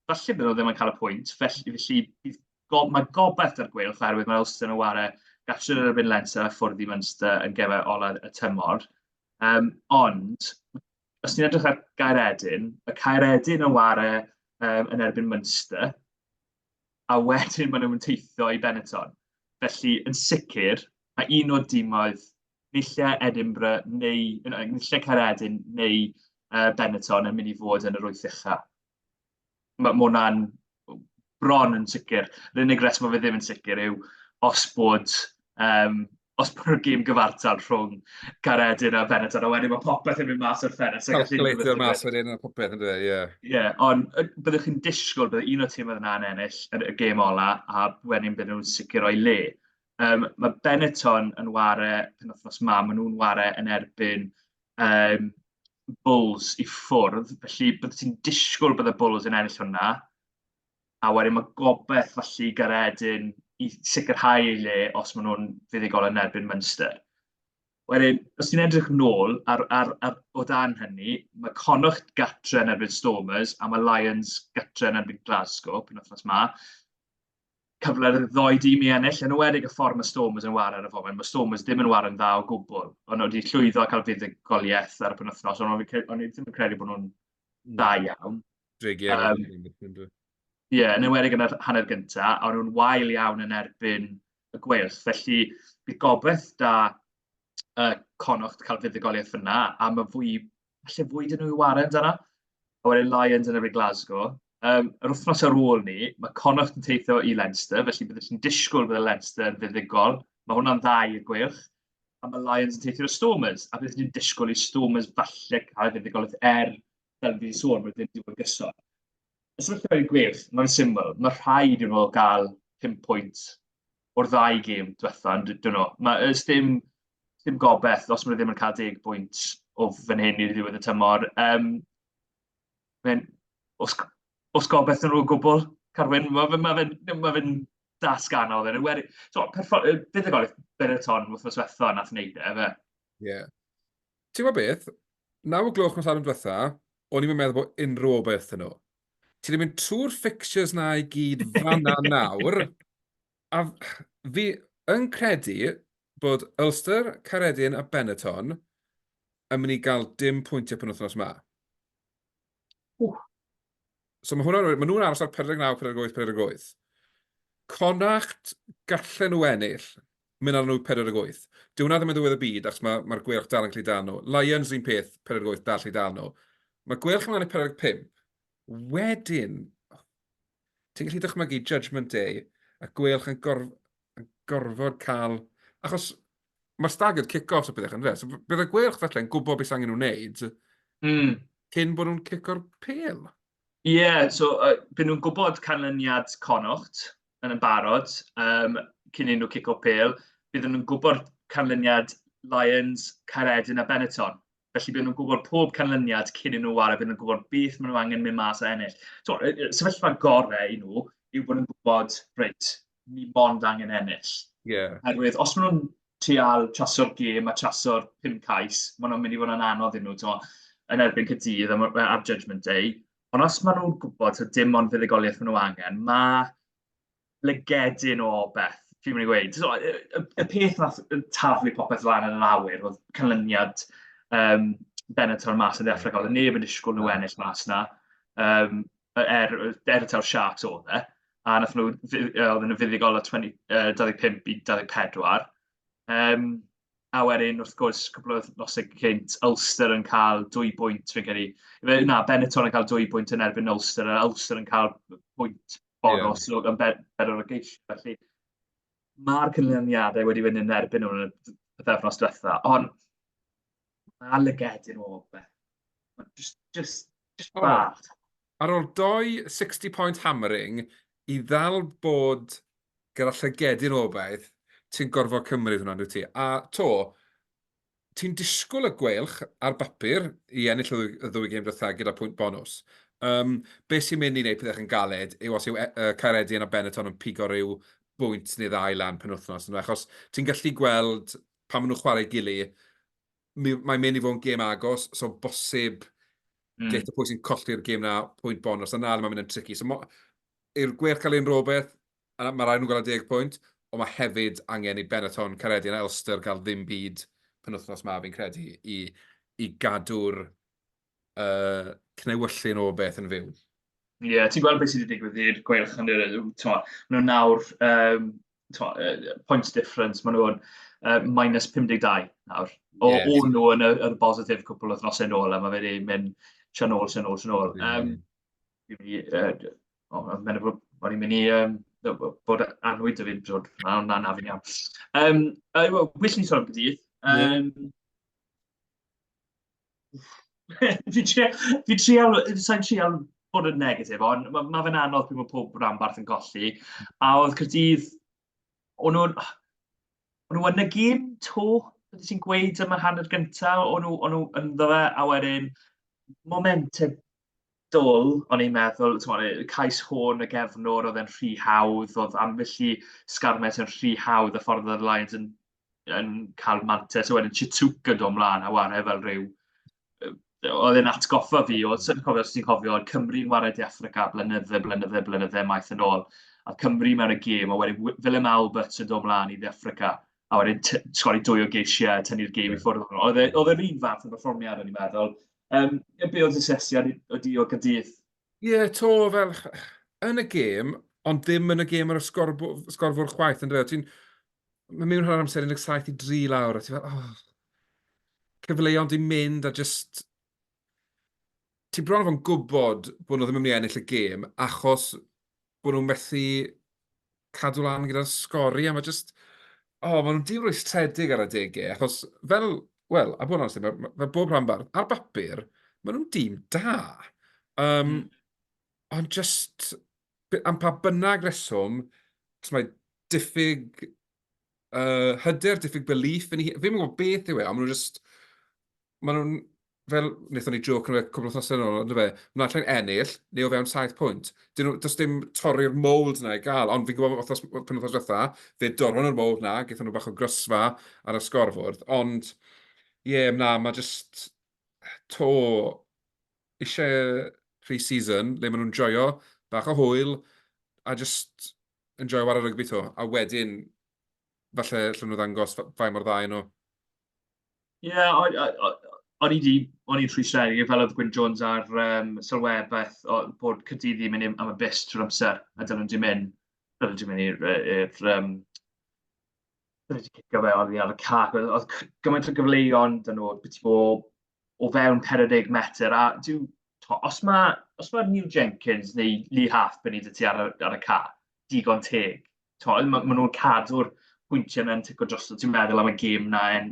falle byd nhw ddim yn cael y pwynt, felly, felly bydd go, mae gobeith ar gweilch oherwydd mae Ulster yn ware gallu yn erbyn Leinster a ffwrdd i Munster yn gefau olaf y tymor. Um, ond, os ti'n edrych ar Gaeredin, y Caeredin yn ware um, yn erbyn Munster, a wedyn maen nhw'n teithio i Benetton. Felly, yn sicr, mae un o'r dimoedd, nillau Edinburgh neu, nillau Caeredin neu uh, Benetton yn mynd i fod yn yr wyth ucha. mae hwnna'n bron yn sicr. Yr unig reswm mae fe ddim yn sicr yw os bod, um, os bod y gym gyfartal rhwng Caredin a Benetton, a wedyn mae popeth yn mynd mas o'r ffenest. Calculator mas wedyn a popeth yn dweud, ie. Yeah. Ie, yeah, ond byddwch chi'n disgwyl bydd un o tîm oedd yna'n ennill yn y gêm ola, a wedyn bydd nhw'n sicr o'i le. Um, mae Benetton yn ware penwthnos ma, maen nhw'n ware yn erbyn yym Bulls i ffwrdd, felly byddet ti'n disgwyl bod y Bulls yn ennill hwnna. A wedyn mae gobeith falle i Garedin i sicrhau ei le os maen nhw'n fuddugol yn erbyn Munster. Wedyn, os ti'n edrych nôl ar, ar, ar, o dan hynny, mae Connacht gatre yn erbyn Stormers a mae Lions gatre yn erbyn Glasgow pen wythnos ma. cyfle i'r ddoi dîm i ennill, yn ymwedig y ffordd mae Stormers yn wario ar y foment. Mae Stormers ddim yn wario'n dda o gwbl, ond wedi llwyddo a cael fuddugoliaeth ar y penwthnos, ond o'n i ddim yn credu bod nhw'n dda hmm. iawn. Drig iawn. Um, Ie, yeah, yn ymwedig yn yr hanner gyntaf, a nhw'n wael iawn yn erbyn y gweilch. Felly, bydd gobeith da uh, Conocht cael fuddugoliaeth yna, a mae fwy falle fwy dyn nhw i waren dyna. A wedyn Lions yn efo'r Glasgow. Um, yr wythnos ar ôl ni, mae Connacht yn teithio i Leinster, felly byddwch chi'n disgwyl bydd y Leinster yn fuddigol. Mae hwnna'n dda i'r gweilch. A mae Lions yn teithio i'r Stormers, a byddwch chi'n disgwyl i Stormers falle cael fuddigolaeth er, fel fi wedi sôn, mae ddim wedi gyson. Os ydych chi'n i'r gweilch, mae'n syml. Mae rhaid i'n nhw gael 5 pwynt o'r ddau gêm diwetha, ond dwi nhw. Mae ys dim, dim gobeith os maen nhw ddim yn cael deg bwynt o fan hyn i'r ddiwedd y tymor. Um, mae'n, os, os gobeith nhw o gwbl, Carwyn, mae fe'n ma fe, ma fe dasg anodd. Yn weri, so, bydd y golwg Bereton wrth nos wetha nath wneud e, fe. Ie. Yeah. Ti'n gwybod beth? Naw o gloch nos arnyn diwetha, o'n i'n meddwl bod unrhyw obaith yn nhw. Ti wedi mynd trwy'r fixtures na i gyd fanna nawr. A fi yn credu bod Ulster, Caredin a Benetton yn mynd i gael dim pwyntiau pan wythnos yma. Ww. So mae hwnna'n... Mae nhw'n aros ar 49, 48, 48. Connacht gallen nhw ennill. Mynd arno yw 48. Dyw hwnna ddim yn ddiwedd y byd achos ma, mae'r gweilch dal yn gallu dal nhw. Lions un peth, 48 dal gallu dal nhw. Mae gweilch ymlaen i 45. Wedyn, ti'n gallu dychmygu Judgment Day a gweilch yn, gorf, yn gorfod cael... Achos mae staggered kick-offs a bethau yn fe. So, bydd y gweilch felly yn gwybod beth sy'n angen nhw'n wneud mm. cyn bod nhw'n cico'r pel. Ie, so yy bydden nhw'n gwybod canlyniad Connaught yn yn barod yym cyn iddyn nhw cico pêl. Bydden nhw'n gwybod canlyniad Lions, Caeredin a Benetton. Felly bydden nhw'n gwybod pob canlyniad cyn iddyn nhw ware, bydden nhw'n gwybod beth maen nhw angen mynd mas a ennill. Tibod, y y sefyllfa gorau i nhw yw bod nhw'n gwybod, reit, ni mond angen ennill. Yeah. Herwydd, os maen nhw'n trial chaso'r gêm a chaso'r pum cais, maen nhw'n mynd i fod yn anodd iddyn nhw, ti'n yn erbyn cydydd am, am Judgment Day. Ond os maen nhw'n gwybod ta dim ond fuddugoliaeth maen nhw angen, mae lygedyn o beth, fi'n mynd i weid. So, y, y, y peth nath taflu popeth lan yn yr awyr oedd canlyniad um, Benator mas yn ddechrau gael. Neb yn disgwyl nhw ennill mas na. Um, er, er y taw'r Sharks oedd e, a nath nhw, oedd nhw fuddugol o 20, uh, 25 i 24. Um, a wedyn, wrth gwrs, cwbl o nosau cynt, Ulster yn cael dwy bwynt, fi'n credu. Na, Benetton yn cael dwy bwynt yn erbyn Ulster, a Ulster yn cael pwynt bonos yeah. yn bedwar o'r geisio. Felly, mae'r cynlyniadau wedi fynd yn erbyn nhw'n y pethefnos diwetha, ond mae lygedyn o beth. Just, just Just oh. bach. Ar ôl doi 60 point hammering i ddal bod gyda llygedyn o obaith, ti'n gorfod cymryd hwnna, dwi ti. A to, ti'n disgwyl y gweilch ar bapur i ennill y ddwy gêm dwytha gyda pwynt bonus. Um, be sy'n mynd i wneud pethau yn galed yw os yw uh, Caeredion a Benetton yn pigo rhyw bwynt neu ddau lan pen wythnos. Achos ti'n gallu gweld pan maen nhw'n chwarae gili, mae'n mynd i fod yn gêm agos, so bosib mm. geit y pwy sy'n colli'r gêm na pwynt bon, os yna mae'n mynd yn tricky. So i'r gwerth cael ein rhywbeth, mae rhaid nhw'n gael 10 pwynt, ond mae hefyd angen i Benetton, Caredin a Elster cael ddim byd penwthnos ma fi'n credu i, i gadw'r uh, cnewyllyn o beth yn fyw. Ie, yeah, ti'n gweld beth sydd wedi digwydd i'r gweilch yn yr yw, maen nhw nawr, um, twa, uh, points difference, maen nhw'n uh, minus 52 nawr. O, yeah, o'n nhw yn y, y bositif cwpl o thnos yn ôl, a mae wedi mynd sian ôl, sian ôl, sian ôl. Um, uh, oh, mae'n mynd o'n i'n mynd i um, bod anwyd y fi'n brod, na, na, na, fi'n iawn. Um, uh, well, wish ni sôn am gydydd. Um, yeah. fi trio, fi trio, sa'n trio bod yn negatif, ond mae ma fe'n anodd pryd mae pob rhanbarth yn golli. A oedd Cyrdydd, o'n nhw'n... O'n nhw yn y gym to, beth ti'n gweud yma hanner gyntaf, o'n nhw, on nhw ynddo fe, a wedyn momentum dull, o'n i'n meddwl, t'mod, y cais hwn, y gefnwr, oedd e'n rhy hawdd, oedd ambell i sgarmet yn rhy hawdd, y ffordd oedd y Lions yn, yn cael mantes, a wedyn Chitsuke yn dod ymlaen a wario fel rhyw... Oedd e'n atgoffa fi, oedd sy'n cofio, os ti'n cofio, oedd Cymru'n wario De Affrica blynydde, blynydde, blynydde maith yn ôl, a Cymru mewn y gêm, a wedyn Willem Albert yn dod ymlaen i De Affrica, a wedyn sgori dwy o geisiau, tynnu'r gêm i ffwrdd. Oedd e, oedd e'r un fath o berfformiad, o'n i'n meddwl, Yym, yy, be oedd dy sesiad i- o di o Gaerdydd? Ie, to fel yn y gêm, ond ddim yn y gêm ar y sgorbw- sgorfwr chwaith, yn dweud. Ti'n... Mae mewn rhan amser 17 i 3 lawr, a ti'n fel, oh, cyfleon di mynd, a just... Ti'n bron o fo'n gwybod bod nhw ddim yn mynd i ennill y gêm, achos bod nhw'n methu cadw lan gyda'r sgori, a mae jyst... O, oh, maen nhw'n diwrwystredig ar adegau, achos fel, wel, a bod yn amser, mae, mae bob rhan bardd, ar bapur, maen nhw'n dîm da. Um, mm. Ond jyst, am pa bynnag reswm, mae diffyg uh, hyder, diffyg belief yn ei... Fi'n gwybod beth yw e, ond maen nhw'n jyst... Maen nhw'n fel wnaethon ni joc yn y cwbl wythnosau yn ôl, ond fe, mae allai'n ennill, neu o fewn 7 pwynt. Dyn nhw, does dim torri'r mold na i gael, ond fi'n gwybod bod wythnos, pen wythnos dda, fe dorfon yr mold na, gaethon nhw bach o grysfa ar y sgorfwrdd, ond ie, yeah, na, mae jyst to eisiau pre-season, le maen nhw'n joio, bach o hwyl, a jyst yn joio war y rygbi to, a wedyn falle lle nhw ddangos fai mor dda nhw. Ie, o'n i o- o- o'n i 'di... o'n i'n rhwystredig, fel oedd Gwyn Jones ar yym sylwebaeth, o- bod Caerdydd yn mynd i- am y bust trwy'r amser, a dylen nhw 'di mynd... dylen nhw 'di mynd i'r yy i'r yym... dylen nhw 'di cicio fe oddi ar y cae. Oedd oedd c- gymaint o gyfleon 'da nhw byti bob o fewn pedwar deg metr, a dyw... tibod, os ma' os ma' Neil Jenkins neu Lee Halfpenny 'da ti ar y ar y cae, digon teg. tol, maen ma nhw'n cadw'r pwyntiau mewn tic o drosto. Ti'n meddwl am y gêm na, en,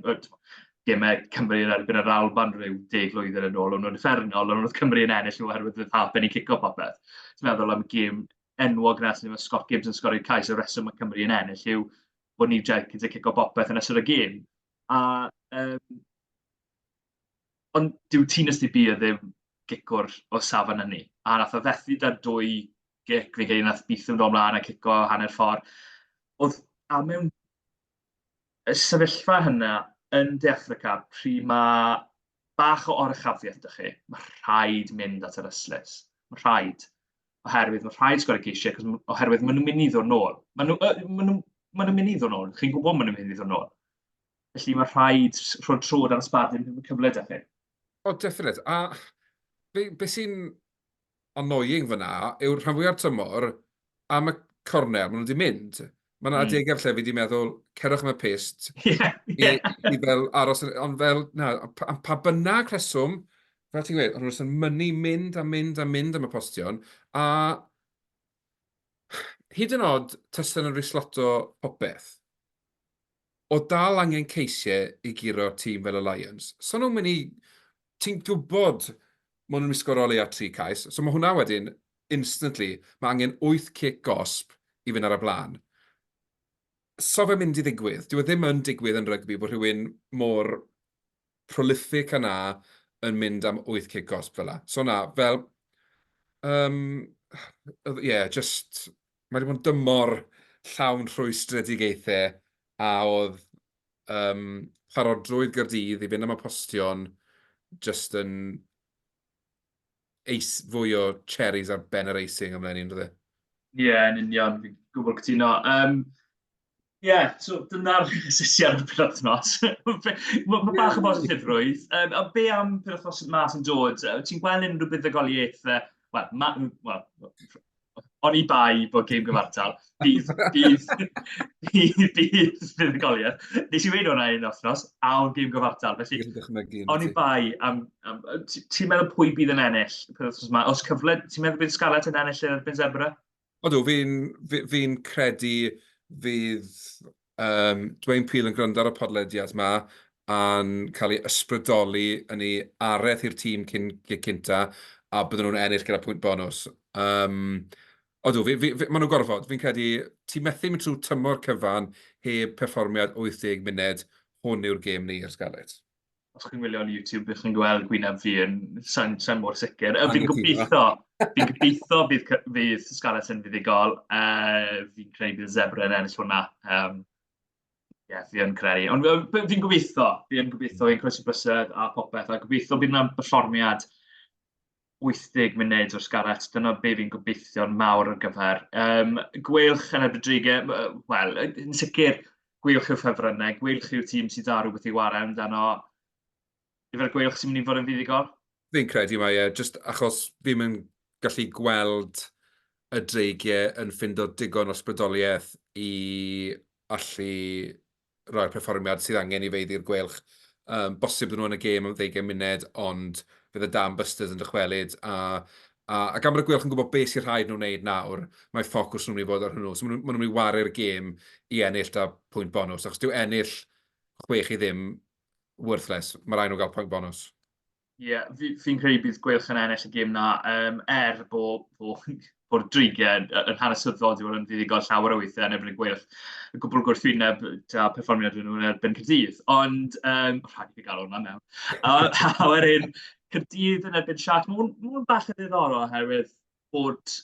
gemau Cymru yn erbyn yr Alban rhyw deg lwydden yn ôl, ond nhw'n effernol, ond oedd Cymru yn ennill nhw oherwydd oedd Harpen yn cico popeth. Ti'n meddwl am y gêm enwog nes ni, mae Scott Gibbs yn sgorio'r cais, y reswm mae Cymru yn ennill yw bod ni Jenkins yn cico popeth yn ystod y gêm. A, um, ond dyw Tîn Ysdi Bia ddim gicwr o safon hynny. A nath o fethu da dwy gic, fi'n credu nath Bithw'n dod mlaen a cico hanner ffordd. Oedd a mewn y sefyllfa hynna yn De Affrica, pryd mae bach o oruchafiaeth da chi, mae rhaid mynd at yr yslis. Mae rhaid. Oherwydd mae rhaid sgwrdd geisiau, oherwydd maen nhw'n mynd i ddod nôl. Maen nhw'n nhw, maen nhw, maen nhw mynd i ddod nôl. Chi'n gwybod maen nhw'n mynd i ddod nôl. Felly mae rhaid rhoi trod ar y sbadyn yn cyfle da chi. O, definite. A be, be sy'n annoying fyna yw rhan fwya'r tymor am y cornel, maen nhw wedi mynd. Mae yna adegau lle fi wedi meddwl, cerwch am y pist, yeah, yeah. I, i fel aros, ond fel, na, am pa bynnag rheswm, fel ti'n gweud, ond nhw'n yn mynnu mynd a mynd a mynd am y postion, a hyd yn oed testyn yn risloto popeth. O dal angen ceishe i guro tîm fel y Lions. So nhw'n mynd i... Ti'n gwybod maen nhw'n mynd i sgoro o leia tri cais. So mae hwnna wedyn, instantly, mae angen wyth cic gosb i fynd ar y blaen. So fe'n mynd i ddigwydd. Dyw e ddim yn digwydd yn rygbi bod rhywun mor prolific a 'na yn mynd am wyth cig gosb fela. So na, fel, um, yeah, just, mae wedi bod yn dymor llawn rhwystredigaethau a oedd um, parodrwydd gyrdydd i fynd am y postion just yn eis, fwy o cherries ar ben yr icing amdano ni'n rhywbeth. Ie, yeah, yn union, fi'n gwybod cytuno. Um, Ie, yeah, so dyna'r sesiad o'r penodnos. Mae ma bach o bod yn ffifrwydd. Um, a be am penodnos yma sy'n dod? Ti'n gweld unrhyw buddugoliaeth, uh, wel, ma, well, oni bai bod gêm gyfartal, bydd, bydd, bydd, bydd fuddugoliaeth. Nes i wneud hwnna un othnos, a o'n gêm gyfartal. Felly, oni bai, am, am, ti'n meddwl pwy bydd yn ennill? Os cyfle, ti'n meddwl bydd Scarlett yn ennill yn erbyn Zebra? Odw, fi'n fi, fi credu fydd Yym, Dwayne Peel yn gwrando ar y podlediad 'ma a'n cael ei ysbrydoli yn ei areth i'r tîm cyn gig cynta, a bydden nhw'n ennill gyda pwynt bonws. Yym, odw, fi, fi, fi, maen nhw'n gorfod. Fi'n credu ti methu mynd trwy tymor cyfan heb perfformiad 80 munud, hwn yw'r gêm ni i'r Scarlets. os chi'n gwylio ar YouTube, ych chi'n gweld gwyneb fi yn sain, sain mor sicr. Uh, fi'n gobeithio, fi'n gobeithio bydd, fydd Scarlett yn fuddigol. Uh, fi'n credu bydd Zebra yn ennill hwnna. Um, Ie, yeah, fi yn credu. Ond fi'n gobeithio, fi'n gobeithio, fi'n croesi bysedd a popeth, a gobeithio bydd yna berfformiad 80 munud o'r Scarlets, dyna be fi'n gobeithio'n mawr ar gyfer. Um, gweilch yn erbyn Drige, wel, yn sicr, gweilch yw'r ffefrynnau, gweilch yw'r tîm sydd dda rhywbeth i wario amdano. Yfe'r gweilch sy'n mynd i fod yn fuddugol? Fi'n credu mae e, just achos fi'n mynd gallu gweld y Drige yn ffindo digon o sbrydoliaeth i allu rhoi'r perfformiad sydd angen i Feidd i'r Gweilch. Um, bosib nhw yn y gêm am ddeugain munud, ond fydd y Dan Busters yn dychwelyd, a, a, a gan bod y Gweilch yn gwybod beth sy'n rhaid nhw wneud nawr, mae ffocws nhw'n mynd i fod ar hwnnw. So maen nhw'n mynd i waru'r gêm i ennill da pwynt bonus, achos dyw ennill chwech i ddim worthless. Mae rhaid nhw gael pwynt bonus. Ie fi fi'n credu bydd Gweilch yn ennill y gêm 'na yym er bo' bo' bo'r dreigie yn yy yn hanesyddol dyw e ddim yn fuddugol llawer o weithie yn erbyn y Gweilch. Y gwbwl gwrthwyneb da perfformiad o'n nhw yn erbyn Caerdydd ond yym rhaid i fi ga'l hwnna mewn. A a wedyn Caerdydd yn erbyn Sharks ma' hwn ma' hwn bach yn ddiddorol oherwydd bod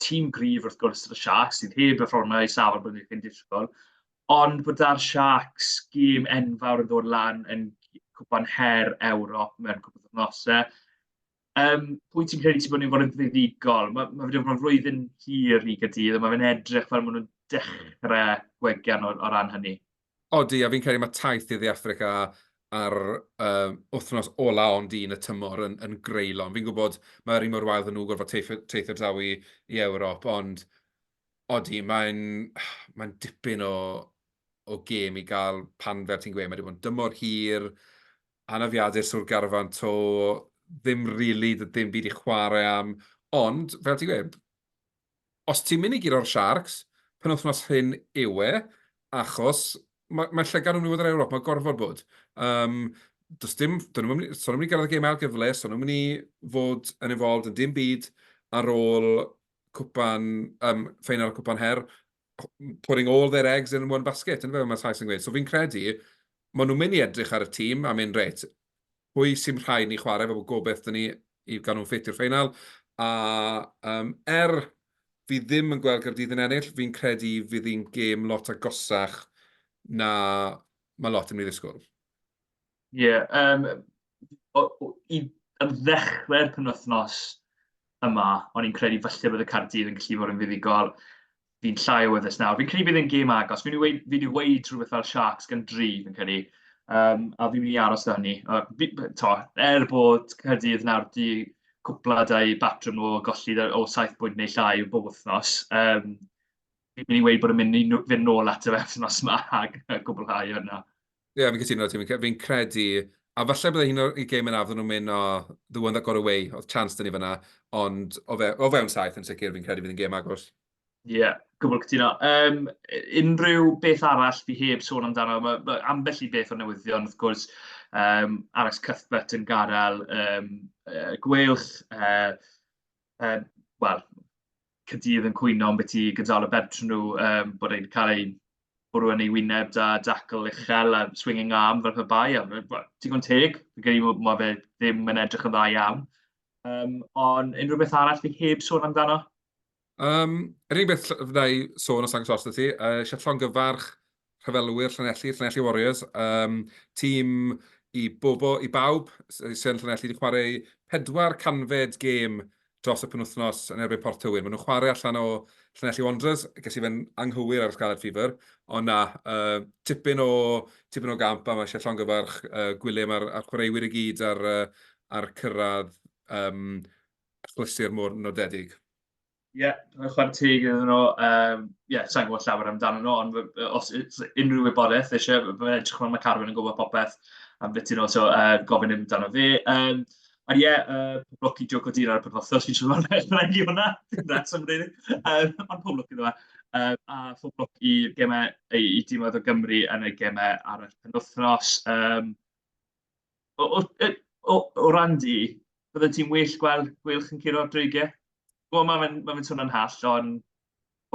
tîm gryf wrth gwrs y Sharks, sydd heb y fformau i safon bod ni'n disgwyl, ond bod da'r Sharks gêm enfawr yn dod lan yn cwpan her Ewrop mewn cwpan o'r nosau. Um, pwy ti'n credu sy'n bod ni'n fod yn ddifigol? Mae ma wedi bod yn flwyddyn hir i gydydd, a mae fe'n edrych fel maen nhw'n dechrau gwegian o, o ran hynny. Odi, a fi'n credu mae taith i dde Affrica ar uh, wythnos ola ond un y tymor yn, yn greulon. Fi'n gwybod mae'r un mor wael ddyn nhw gorfod teithio draw i, i Ewrop, ond odi, mae'n mae dipyn o, o gêm i gael pan fel ti'n gweud, mae wedi bod yn dymor hir, anafiadur sŵr garfan to, ddim rili, really, ddim byd i chwarae am, ond fel ti'n gweud, Os ti'n mynd i guro'r Sharks, penwythnos hyn yw e, achos mae, mae llygad yn mynd i fod yr Ewrop, mae gorfod bod. Um, does dim, dyn nhw'n mynd, so nhw'n mynd i gyrraedd y gêm ail gyfle, so nhw'n mynd i fod yn involved yn dim byd ar ôl cwpan, um, ffeinal y cwpan her, putting all their eggs in one basket, yn fe, mae Sais yn gweud. So fi'n credu, maen nhw'n mynd i edrych ar y tîm a mynd reit, pwy sy'n rhaid ni chwarae, fel bod gobeith dyn ni i gael nhw'n ffit i'r ffeinal. A um, er fi ddim yn gweld Gyrdydd yn ennill, fi'n credu fydd hi'n gêm lot agosach na mae lot yn ei ddisgwyl. Ie, yeah, um, o, o, i, am ddechrau'r penwythnos yma, o'n i'n credu falle bod y Cardydd yn gallu fod yn fuddugol. fi'n llai o weddus nawr. Fi'n credu bydd yn gêm agos. Fi'n wedi fi weid rhywbeth fel Sharks gan dri, fi'n credu. Um, a fi'n mynd i aros da hynny. Uh, fi, to, er bod Cyrdydd nawr di cwpla dau batrwm o golli o 7 bwynt neu llai bob wythnos, um, fi'n mynd i weid bod yn mynd i fynd nôl at y wefnos yma a gwblhau hwnna. Ie, yeah, fi'n cytuno ti. Fi'n credu, a falle bydde un o'r gêm yn afon nhw'n mynd o the one that got away, oedd chance dyn ni fyna, ond o, fe, o fewn saith yn sicr fi'n credu fydd yn gêm agos. Ie, yeah, gwbl cytuno. Um, unrhyw beth arall fi heb sôn amdano, mae ma ambell i beth o newyddion, wrth gwrs, um, Alex Cuthbert yn gadael um, uh, gwelch, uh, uh, wel, Caerdydd yn cwyno am beth i gydsail y bentref nhw, um, bod e'n cael ei bwrw yn ei wyneb da, dacl uchel a swinging arm fel pe bai. Digon teg, fi'n credu bod ma fe ddim yn edrych yn dda iawn. Um, ond unrhyw beth arall fi heb sôn amdano? Um, yr unig beth fydda i sôn os angos os ti, uh, Siaflonga farch rhyfelwyr Llanelli, Llanelli Warriors, um, tîm i bobo, i bawb, sy'n Llanelli wedi chwarae pedwar canfed gêm dros y penwthnos yn erbyn Port Tywyn. Maen nhw'n chwarae allan o Llanelli Wanderers, ges i fe'n anghywir ar y Scarlet Fever, ond na, uh, tipyn, o, tipyn o gamp a mae eisiau llongyfarch uh, Gwilym a'r, ar chwaraewyr i gyd ar, uh, ar cyrraedd um, achlysur mor nodedig. Ie, yeah, chwarae teg iddyn nhw. Um, ie, yeah, sa'n gwybod llawer amdano nhw, ond os unrhyw wybodaeth eisiau, mae'n edrych fel mae Carwyn yn gwybod popeth am beth i'n nhw, so uh, gofyn i'n amdano fi. Um, a ie, yeah, uh, pob lwc i Joe Codina ar y penwthnos, fi'n siŵr mae'n rhaid i hwnna, that's am rili. Um, ond pob lwc i dda. Um, a pob lwc i gemau, i, i dîmoedd o Gymru yn y gemau ar y penwthnos. Um, O, o, e, o, o ran di, bydde ti'n well gweld gwylch yn curo dreigiau? Wel, mae fe'n ma fe swnio'n hall, ond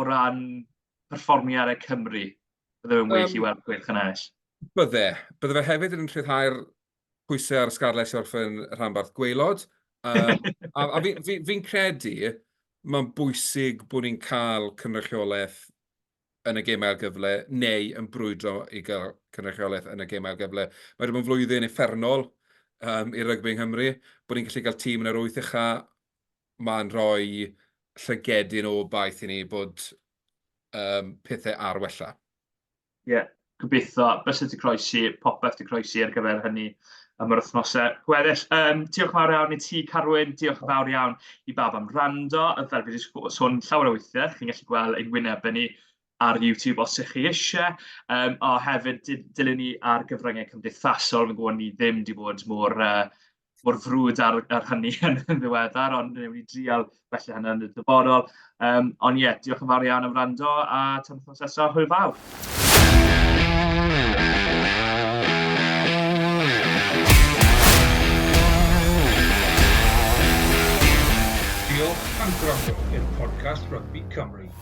o ran perfformiadau Cymru, bydde fe'n well um, i weld gwylch yn ennill. Bydde. Bydde fe hefyd yn rhyddhau'r pwysau ar Scarlett i orffen rhanbarth gweilod. Um, a a fi'n fi, fi credu mae'n bwysig bod ni'n cael cynrychiolaeth yn y gêm ail gyfle, neu yn brwydro i gael cynrychiolaeth yn y gêm ail gyfle. Mae wedi bod yn flwyddyn effernol um, i rygbi yng Nghymru, bod ni'n gallu cael tîm yn yr wyth ucha, mae'n rhoi llygedyn o baith i ni bod um, pethau ar wella. Ie, yeah, gobeithio bysedd wedi croesi, popeth wedi croesi ar gyfer hynny am yr wythnosau gweddill. Um, diolch yn fawr iawn i ti, Carwyn. Diolch yn fawr iawn i bawb am rando. Fel fi wedi sôn llawer o weithiau, chi'n gallu gweld ein wynebau ni ar YouTube os ydych chi eisiau. Um, a hefyd, dilyn ni ar gyfryngau cymdeithasol, fi'n gwybod ni ddim wedi bod mor uh, mor frwd ar, ar hynny yn ddiweddar, ond newn ni drial felly hynny yn y dyfodol. Um, ond ie, yeah, diolch yn fawr iawn am rando a tan wythnos nesaf, hwyl fawr. Diolch am gwrando i'r podcast Rugby Cymru.